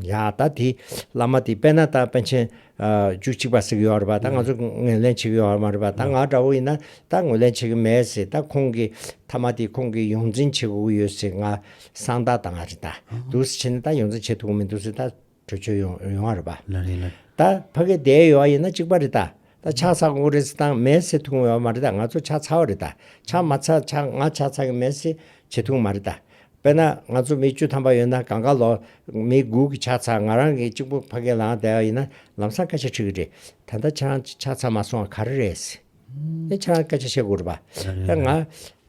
ཡང་རྟ་དེ་བླ་མ་དེ་དཔལ་ན་རྟ་དཔལ་ཆེན་རྒྱུ་གཅིག་པ་ཟིག་ཡོད་རེད་པ་ད་ང་ཚོ་ངོས་ལེན་བྱེད་ཀྱི་ཡོད་མ་རེད་པ་ད་ང་འདྲ་བོ་ཡིན་ན་ད་ངོས་ལེན་བྱེད་ཀྱི་མེད་ཟེར་ད་ཁོང་གི་ཐ་མ་དེ་ཁོང་གི་ཡོངས་འཛིན་བྱེད་དགོས་ཀྱི་ཡོད་ཟེར་ང་གསང་བདག་དང་རེད་ད་འདུག་ཟེར་བྱས་ནས་ད་ཡོངས་འཛིན་བྱེད་ཐུབ་ཀྱི་མི་འདུག་ཟེར་ད་གྲོས་ཆོད་ཡོང་ཡོང་བ་རེད་པ། ལ་རེད་ལ། ད་ཕ་གི་དེ་ཡོད་ཡིན་ན་གཅིག་པ་རེད་ད་ད་ཆགས་ཚགས་དགོས་རེད་ཟེར་ད་མེད་ཟེར་ཐུབ་ཀྱི་ཡོད་མ་རེད་ད་ང་ཚོ་ཆགས་ཚར་བ་རེད་ད་ཆགས་མ་ཚར་ཆགས་ང་ཆགས་ཚར་གྱི་མེད་ཟེར་བྱེད་ཐུབ་ཀྱི་མ་རེད་ད། དཔེར་ན་ང་ཚོ་མི་བཅུ་ཐམ་པ་ཡོད་ན་གང་ག་ལོག་མི་དགུ་གི་ཆ་ཚང་ང་རང་གི་གཅིག་པུ་ཕ་གི་ལང་བསྡད་པ་ཡིན་ན་ལམ་སང་སྐད་ཆ་འཁྲི་གི་རེད། ད་ལྟ་ཁྱེད་རང་ཆ་ཚང་མ་སོང་ག་རེ་རེད། ཨེ་ཁྱེད་རང་སྐད་ཆ་བཤད་དགོས་རེད་པ། ད་ང་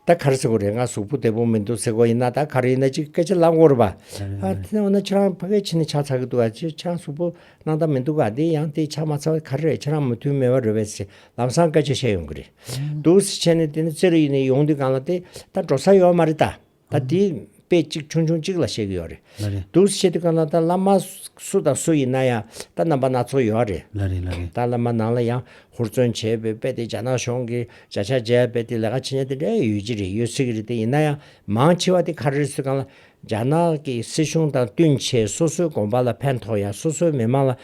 ད་ག་རེ་ཟེར་དགོས་རེད་ང་གཟུགས་པོ་བདེ་པོ་མི་འདུག་ཟེར་དགོས་ཡིན་ན་ད་ག་རེ་ཡིན་ན་ཅིག་སྐད་ཆ་ལབ་དགོས་རེད་པ། ཨ་དེ་འོ་ན་ཁྱེད་རང་ཕ་གའི་ཕྱི་ནས་ཆ་ཚང་གི་འདུག་ཨ་ཅེ་ཁྱེད་རང་གཟུགས་པོ་སྣང་དག་མི་འདུག་ག་དེ་ཡང་དེ་ཆ་མ་ཚང་བ་ག་རེ་རེད་ཁྱེད་རང་མོ་མཐུན་མེད་པ་རེད་བས་ཟེར་ལམ་སང་སྐད་ཆ་བཤད་ཡོང་གི་རེད་འདུག་ཟེར་ཁྱེད་ནི་དེ་ནི་རྩེ་རུ་ཡིན་ནས་ཡོང་དུས་གང་ལ་དེ་ད་འགྲོ་ས་ཡོད་མ་རེད་ད། ད་དེ་དཔེ་གཅིག་ཆུང་ཆུང་གཅིག་ལ་བཤད་གི་ཡོད་རེད་འདུག་བཤད་དུས་གང་ལྟར་ད་བླ་མ་སུ་དང་སུ་ཡིན་ན་ཡང་ད་རྣམ་པ་སྣ་ཚོགས་ཡོད་རེད། ད་བླ་མ་ནང་ལ་ཡང་ཧུར་བརྩོན་བྱས་པའི་དཔེ་དེ་རྒྱ་ནག་གཞུང་གི་བྱ་བཞག་བརྒྱད་དཔེ་དེ་ལས་ཀ་ཇི་སྙེད་དེ་འདྲ་ཡོད་ཀྱི་རེད་ཡོད་སྲིད་ཀྱི་རེད་དེ་ཡིན་ན་ཡང་མང་ཆེ་བ་དེ་ག་རེ་སུས་གང་ལ་རྒྱ་ནག་གི་སྲིད་གཞུང་དང་བསྟུན་ཆེད་སོ་སོའི་དགོངས་པ་ལ་ཕན་ཐོགས་ཡང་སོ་སོའི་མི་མང་ལ་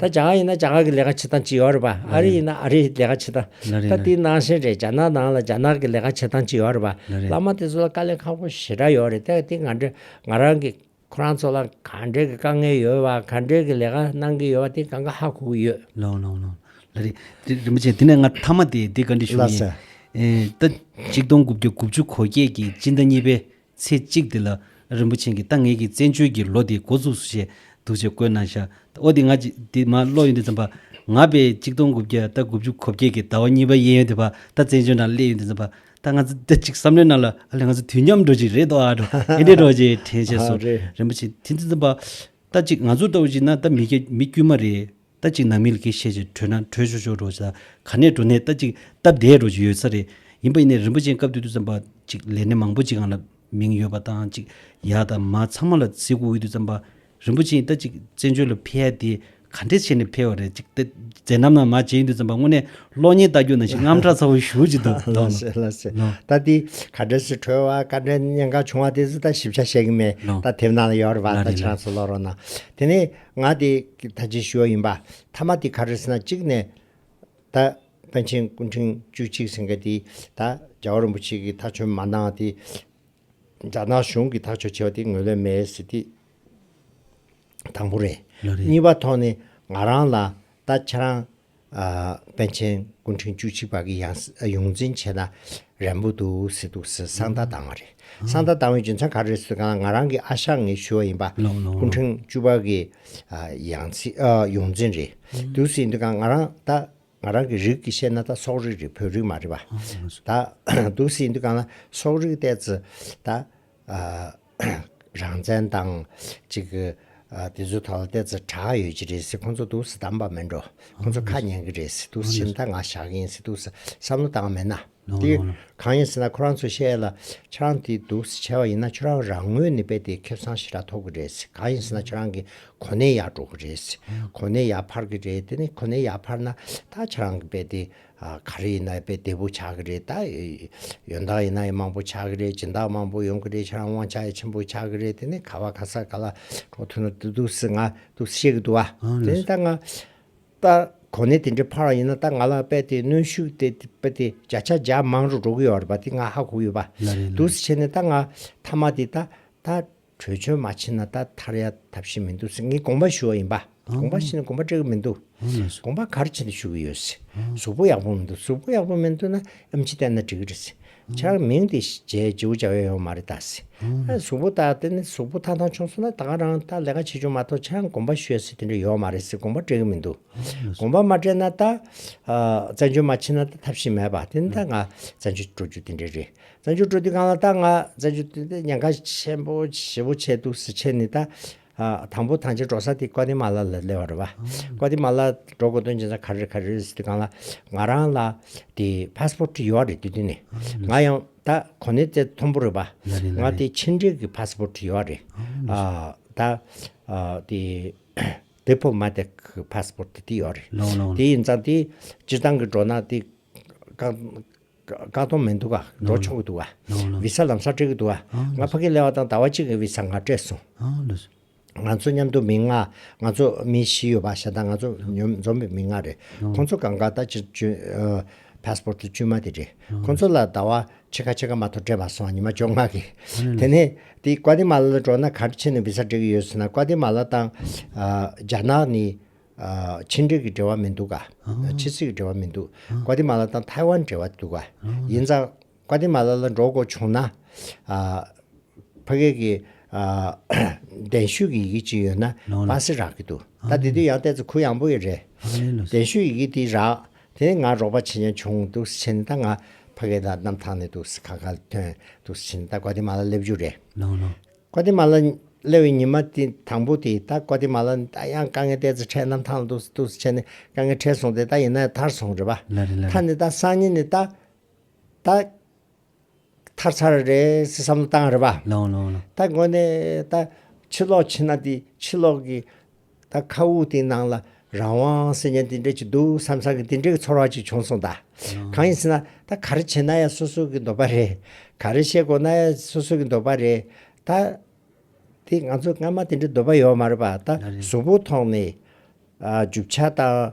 ད་རྒྱ་ནག་ཡིན་ན་རྒྱ་ནག་གི་ལས་ཀ་བྱེད་སྟངས་ཅི་ཡོད་རེད་པ། ཨ་རི་ཡིན་ན་ཨ་རིའི་ལས་ཀ་བྱེད་སྟངས། ད་དེ་ནང་བཞིན་རེད་རྒྱ་ནག་ནང་ལ་རྒྱ་ནག་གི་ལས་ཀ་བྱེད་སྟངས་ཅི་ཡོད་རེད་པ། བླ་མ་དེ་ཚོ་ལ་དཀའ་ལས་ཁག་པོ་ཞེ་དྲག་ཡོད་རེད་དེ་ང་འདྲ་ང་རང་གི་ཁོ་རང་ཚོ་ལ་ག་འདྲའི་གི་དཀའ་ངལ་ཡོད་བ་ག་འདྲའི་གི་ལས་ཀ་གནང་གི་ཡོད་བ་དེ་གང་ག་ཧ་གོ་གི་ཡོད། ལོང་ལོང་ལོང། ལ་རེད། དེ་རིན་པོ་ཆེ་དེ་ནས་ང་མཐའ་མ་དེ་དེ་ག་འདྲའི་བཞུགས་ཡིན། ལ་སྲས། ད། གཅིག་སྟོང་དགུ་བརྒྱ་དགུ་བཅུ་གོ་བརྒྱད་ཀྱི་སྤྱི་ཟླ་གཉིས་པའི། ཚེས་གཅིག་འདི་ལ་རིན་པོ་ཆེན་གྱི་ལྟ་ངེས་ཀྱི་བཙན་བྱོལ་གྱི་ལོ་དེའི་འགོ་ཚུགས་སུ་ཞེས་འདུག་ཅེས་བཀོད་གནང་ཤག་ཨོ་དེ་ང་འདི་མ་ཀློག་ཡོན་ཏན་ཙམ་པ་ང་པས་གཅིག་སྟོང་དགུ་བརྒྱ་རྟ་དགུ་བཅུ་གོ་བརྒྱད་ཀྱི་ཟླ་བ་གཉིས་པ་གཡས་ཡོན་ཏན་པ་ད་བཙན་བྱོལ་ནང་སླེབས་ཡོན་ཏན་ཙམ་པ་ད་ང་ཚོ་ད་ཅིག་བསམ་བློའི་ནང་ལ་ཨ་ལས་ང་ཚོ་དུས་མཉམ་འགྲོ་ཅིག་རེད་དོ་ཨ་འགྲོ་ཨེ་འགྲེ་འགྲོ་ཅེས་དྲན་བྱས་སོ་རིན་པོ་ཆེན་དེ་ཙམ་པ་ད་ཅིག་ང་ཚོ་ལྟ་བུ་ཞིག་ན་ད་མི་དཀྱུས་མ་རེད། རྟ་གཅིག་ནང་མི་ལ་ཁེ་ཤེས་ཀྱི་བྲོས་ན་བྲོས་ཆོག་ཆོག་འགྲོ་ཆ་ག་ནས་འགྲོ་ནས་རྟ་གཅིག་སྟབས་བདེ་འགྲོ་ཆུ་ཡོད་ས་རེད་ཡིན་པ་ཡིན་ནའི་རིན་པོ་ཆེན་སྐབས་དུས་དུས་ཙམ་པ་གཅིག་ལས་ནི་མང་པོ་གཅིག་གང་ལ་མིང་ཡོད་པ་དང་གཅིག་ཡག་དང་མ་ཚང་མ་ལ་ཚིག་གུ་འུད་དུས་ཙམ་པ་རིན་པོ་ཆེན་རྟ་གཅིག་བཙན་བྱོལ་ལ་ཕེལ་ཡ་དེ་ག་འདྲས་བྱས་ནས་ཕེལ་བ་རེད་གཅིག་རྩེ་ནམ་ནམ་མ་བྱས་ཡིན་དུས་ཙམ་པ་དངོས་གནས་གློག་བརྙན་ལྟ་རྒྱུ་ནང་བཞིན་རྔམ་དྲག་ཚ་བོ་ཞུ་ཅིག་འདུག་ལ་ལོ་ཞེས་ལ་ཞེས་ལོ་རྟ་འདི་ག་འདྲས་སུ་བྲོས་བ་ག་འདྲས་གཉན་གང་བྱུང་བ་དེ་ཚོ་ད་ཞིབ་ཆ་ཤེས་ཀྱི་མེད་ལོ་རྟ་དེབ་ནང་ལ་ཡོད་རེད་པ་ལ་རྟ་ལེ་ལ་ཕྱིར་ལ་སུ་ལོག་རོགས་གནང་དེ་ནས། ང་དེ་ད་ཅི་ཞུ་བ་ཡིན་པ་ཐ་མ་དེ་ག་རེ་ཟེར་ན་གཅིག་ནས་ད་པན་ཆེན་སྐུ་འཕྲེང་བཅུ་གཅིག་ཟེར་མཁན་དེ་ད་རྒྱ་བོ་རིན་པོ་ཆེ་གི་ཐག་ཆོད་མ་གནང་བ་དེ་རྒྱ་ནག་གཞུང་གི་ཐག་ཆོད་བྱས་པ་དེ་ངོས་ལེན་མེད་ཟེར་དེ་དང་པོ་རེད། གཉིས་པ་ཐོག་ནས་ང་རང་ལ་ད་ཁྱེད་རང་པཎ་ཆེན་སྐུ་ཕྲེང་བཅུ་གཅིག་པ་གི་ཡོངས་འཛིན་བྱས་ན་རན་པོ་འདུག་ཟེར་འདུག་ཟེར་གསང་བརྡ་བཏང་བ་རེད། གསང་བརྡ་བཏང་བའི་རྒྱུ་མཚན་ག་རེད་ཟེར་གང་ལ་ང་རང་གི་ཨ་ཞང་ངས་ཞུ་བ་ཡིན་པ། སྐུ་ཕྲེང་བཅུ་པ་གི་ཡོངས་འཛིན་རེད་འདུག་ཟེར་འདུག་གང་ང་རང་ད་ང་རང་གི་རིགས་ཀྱི་བཤད་ན་ད་སོག་རིགས་རེད་བོད་རིགས་མ་རེད་པ། ད་འདུག་ཟེར་འདུག་གང་ལ་སོག་རིགས་ལྟས་ད། རང་བཙན་དང་ཅིག་དེ་ཚོའི་ཐོག་ལ་བལྟས་ཚེ་གྲགས་ཡོད་ཀྱི་རེད་སྲིད་ཁོང་ཚོ་དུག་སྲིད་དམ་པ་མིན་འགྲོ་ཁོང་ཚོ་ཁ་ཉན་གྱི་རེད་སྲིད་དུག་སྲིད་ཞིབ་མཐའ་ང་བཞག་གི་ཡིན་སྲིད་དུག་སྲིད་བསམ་བློ་བཏང་མེད་ན་དེ་གང་ཡིན་སྲིད་ན་ཁོ་རང་ཚོས་བཤད་ལ་ཁྱོད་རང་དེ་དུག་སྲིད་བྱས་པ་ཡིན་ན་ཁྱོད་རང་རང་ངོས་ནས་དཔེ་དེ་ཁེབ་གསང་ཞི་དྲག་ཐོབ་གི་རེད་སྲིད་གང་ཡིན་སྲིད་ན་ཁྱོད་རང་གི་གོ་གནས་ཡག་འགྲོ་གི་རེད་སྲིད་གོ་གནས་ཡག་འཕར་གི་རེད་དེ་ནས་གོ་གནས་ཡག་འཕར་ན་ད་ཁྱོད་རང་གི་དཔེ་དེ་ག་རེ་ཡིན་ན་དཔེ་བདེ་པོ་ཆགས་ཀྱི་རེད་ད། ཡོན་བདག་ཡིན་ན་ཡི་མང་པོ་ཆགས་ཀྱི་རེད་སྦྱིན་བདག་མང་པོ་ཡོང་གི་རེད་ཁྱེད་རང་དབང་ཆ་ཡི་ཆེན་པོ་ཆགས་ཀྱི་རེད་དེ་ནས་ག་བ་ག་ས་ག་ལ་གྲོགས་མཐུན་ནོ་དུ་དུ་སི་ང་དུ་སི་བཤད་ཀྱི་འདུག་བ། དེ་ནས་ད་ང། ད་གོ་གནས་དེ་འདྲའི་ཕར་བ་ཡིན་ན་ད་ང་ལ་དཔེ་དེ་གནོན་ཤུགས་དེ་དཔེ་དེ་བརྒྱ་ཆ་བརྒྱ་མང་རུ་འགྲོ་གི་ཡོད་རེད་པ་དེ་ང་ཧ་གོ་གི་ཡོད་པ། ལ་རེད་ལ། དུ་སི་བྱས་ནས་ད་ང་མཐའ་མ་དེ་ད་ད་གྲོས་ཆོད་མ་ཕྱིན་ན་ད་ཐར་ཡ་ཐབས་ཤེས་མི་འདུག་ཟེར་ངས་དགོངས་པ་ཞུ་བ་ཡིན་པ། དགོངས་པ་ཞུས་ནས་དགོངས་པ་སྤྲད་གི་མི་འདུག། དགོངས་པ་གར་བྱེད་དུ་ཞུ་གི་ཡོད། གཟུགས་པོ་ཡག་པོ་མི་འདུག་གཟུགས་པོ་ཡག་པོ་མི་འདུག་ན་ཨམ་ཆི་བསྟན་ན་འགྲིག་གི་རེད། ཆ་མིང་དེ་བྱས་ཇེའུ་ཅའུ་ཡ་ཡོང་མ་རེད་ད། གཟུགས་པོ་ད་དེ་ནས་གཟུགས་པོ་ཐང་ཐང་བྱུང་སོང་ན་ད་ག་རང་ད་ལས་ཀ་བྱེད་བྱུང་མ་ཐོག་ཆ་དགོངས་པ་ཞུས་ཟེར་དེ་འདྲ་ཡོད་མ་རེད་ཟེར་དགོངས་པ་སྤྲད་གི་མི་འདུག། དགོངས་པ་མ་སྤྲད་ན་ད། བཙན་བྱོལ་མ་ཕྱིན་ན་ད་ཐབས་ཤེས་མེད་པ་དེ་ནི་ད་ང་བཙན་བྱོལ་འགྲོ་རྒྱུ་དེ་འདྲ་རེད། བཙན་བྱོལ་སྤྲོ་བསྡུ་ཁང་ལ་ལྟ་ང་བཙན་བྱོལ་སྤྲོ་བསྡུ་ཉེན་ཁ་ཆེན་པོ་ཞེ་བོ་ཆེ་འདུག་ཟེར་ཆེད་ནི་ད། དང་པོ་དང་ཕྱིར་འགྲོ་ས་དེ་ཀོ་ཏི་མ་ལ་ལ་སླེ་བ་རེད་བ། ཀོ་ཏི་མ་ལ་འགྲོ་དགོས་དོན་ཅི་ན་ག་རེ་ག་རེ་སྤྲོ་བསྡུ་ཁང་ལ་ང་རང་ལ་དེ Passport ཡོད་རེད་དུས་དུས་ནས་ང་ཡང་ད་གོ་ནི་དེ་མཐོན་པོ་རེད་བ། ང་དེ་ཕྱི་འབྲེལ་གི Passport ཡོད་རེད། ད་དེ Diplomatic Passport དེ་ཡོད་རེད། དེ་ཡིན་ཙང་དེ་སྤྱིར་བཏང་གི་འགྲོ་ན་དེ་ཀག་སྟོང་མི་འདུག་ག་འགྲོ་ཆོག་གི་འདུག་ག་བི་ས་ལམ་སར་འགྲིག་གི་འདུག་ག་ང་ཕ་གི་ལེ་བ་དང་ཟླ་བ་གཅིག་གི་བི་ས་ང་སྤྲད་སོང། ང་ཚོ་མཉམ་དུ་མི་ལྔ་ང་ཚོ་མི་བཞི་ཡོད་པ་ཤ་སྟག་ང་ཚོ་འཛོམས་པའི་མི་ལྔ་རེད་ཁོང་ཚོ་གང་ག་ད་ཅི་བྱོས passport བཅོས་མ་དེ་རེད་ཁོང་ཚོ་ལ་ཟླ་བ་ཕྱེད་ཀ་ཕྱེད་ཀ་མ་ཐོ་སྤྲད་པ་སོང་ཉི་མ་བཅོ་ལྔ་གི་དེ་ནས་དེ་ཀའོ་ཏི་མ་ལ་ལ་འགྲོ་ན་ག་འདྲ་ཆེ་ནས་བི་ས་འགྲིག་གི་ཡོད་ཟེར་ན་ཀའོ་ཏི་མ་ལ་དང་རྒྱ་ནག་ནི། ཕྱི་འབྲེལ་གྱི་འབྲེལ་བ་མི་འདུག་གཱ། ཕྱི་སྲིད་ཀྱི་འབྲེལ་བ་མི་འདུག། ཀོ་ཏི་མ་ལ་དང་ཐའེ་ཝན་འབྲེལ་བ་འདུག་གཱ། ཡིན་ཙང། ཀོ་ཏི་མ་ལ་ལ་འགྲོ་དགོས་བྱུང་ན། ཕ་སྐད་ཀྱི། གདན་ཞུས་ཀྱི་ཡི་གེ་ཅིག་ཡོད་ན་སྤ་སེ་རག་གི་འདུག་ད་དེ་དུས་ཡང་བལྟས་ཚེ་གུ་ཡངས་པོ་ཡི་རེད། གདན་ཞུས་ཡི་གེ་དེ་རག་དེ་ནས་ང་རོགས་པ་བྱེད་ཉན་བྱུང་འདུག་ཟེར་ནས་ད་ང་ཕ་སྐད་ལ་གནམ་ཐང་ནས་འདུག་ཟེར་ག་ག་ལ་ཐོན་འདུག་ཟེར་ནས་ད་ཀོ་ཏི་མ་ལ་སླེབས་རྒྱུ་རེད། ཀོ་ཏེ་མ་ལ། སླེ་བའི་ཉི་མ་དེ་དང་པོ་དེ་ད་ཀོ་ཏེ་མ་ལ། ད་ཡང་དཀའ་ངལ་ཏེ་ཚེ་ཕྲད་རྣམས་ཐང་ལ་ཏུགས་སུ་ཏུགས་སུ་ཆད་ནས་དཀའ་ངལ་ཕྲད་སོང་སྟེ་ད་ཡིན་ན་ཐར་སོང་རེད་པ། ལ་རེ་ལ་རེ། ད་ནི་ད་སང་ཉིན་ནི་ད། ད། ཐར་ཚར་རེད་ཟེར་བསམ་བློ་བཏང་རེད་པ། ལོང་ལོང་ལོང། ད་འགོ་ནས་ད། ཕྱི་ལོག་ཕྱིན་ན་དེ་ཕྱི་ལོག་གི། ད་མཁའ་དབུགས་དེའི་ནང་ལ་རང་དབང་སེམས་ཅན་དེ་འདྲ་ཅིག་འདུག་བསམ་བསམ་གི་དེ་འདྲའི་ཚོར་བ་ཅིག་བྱུང་སོང་ད། གང་ཡིན་ཟེར་ན་ད་ག་རེ་བྱེད་ན་ཡང་སོ་སོ་གི་འདོད་པ་རེད། ག་རེ་བཤད་དགོས་ན་ཡང་སོ་སོ་གི་འདོད་པ་རེད། ད། དེ་ང་ཚོ་སྔ་མ་དེ་འདྲའི་འདོད་པ་ཡོད་མ་རེད་པ་ད་གཟུགས་པོ་ཐོག་ནས། རྒྱུ་ཆ་དང།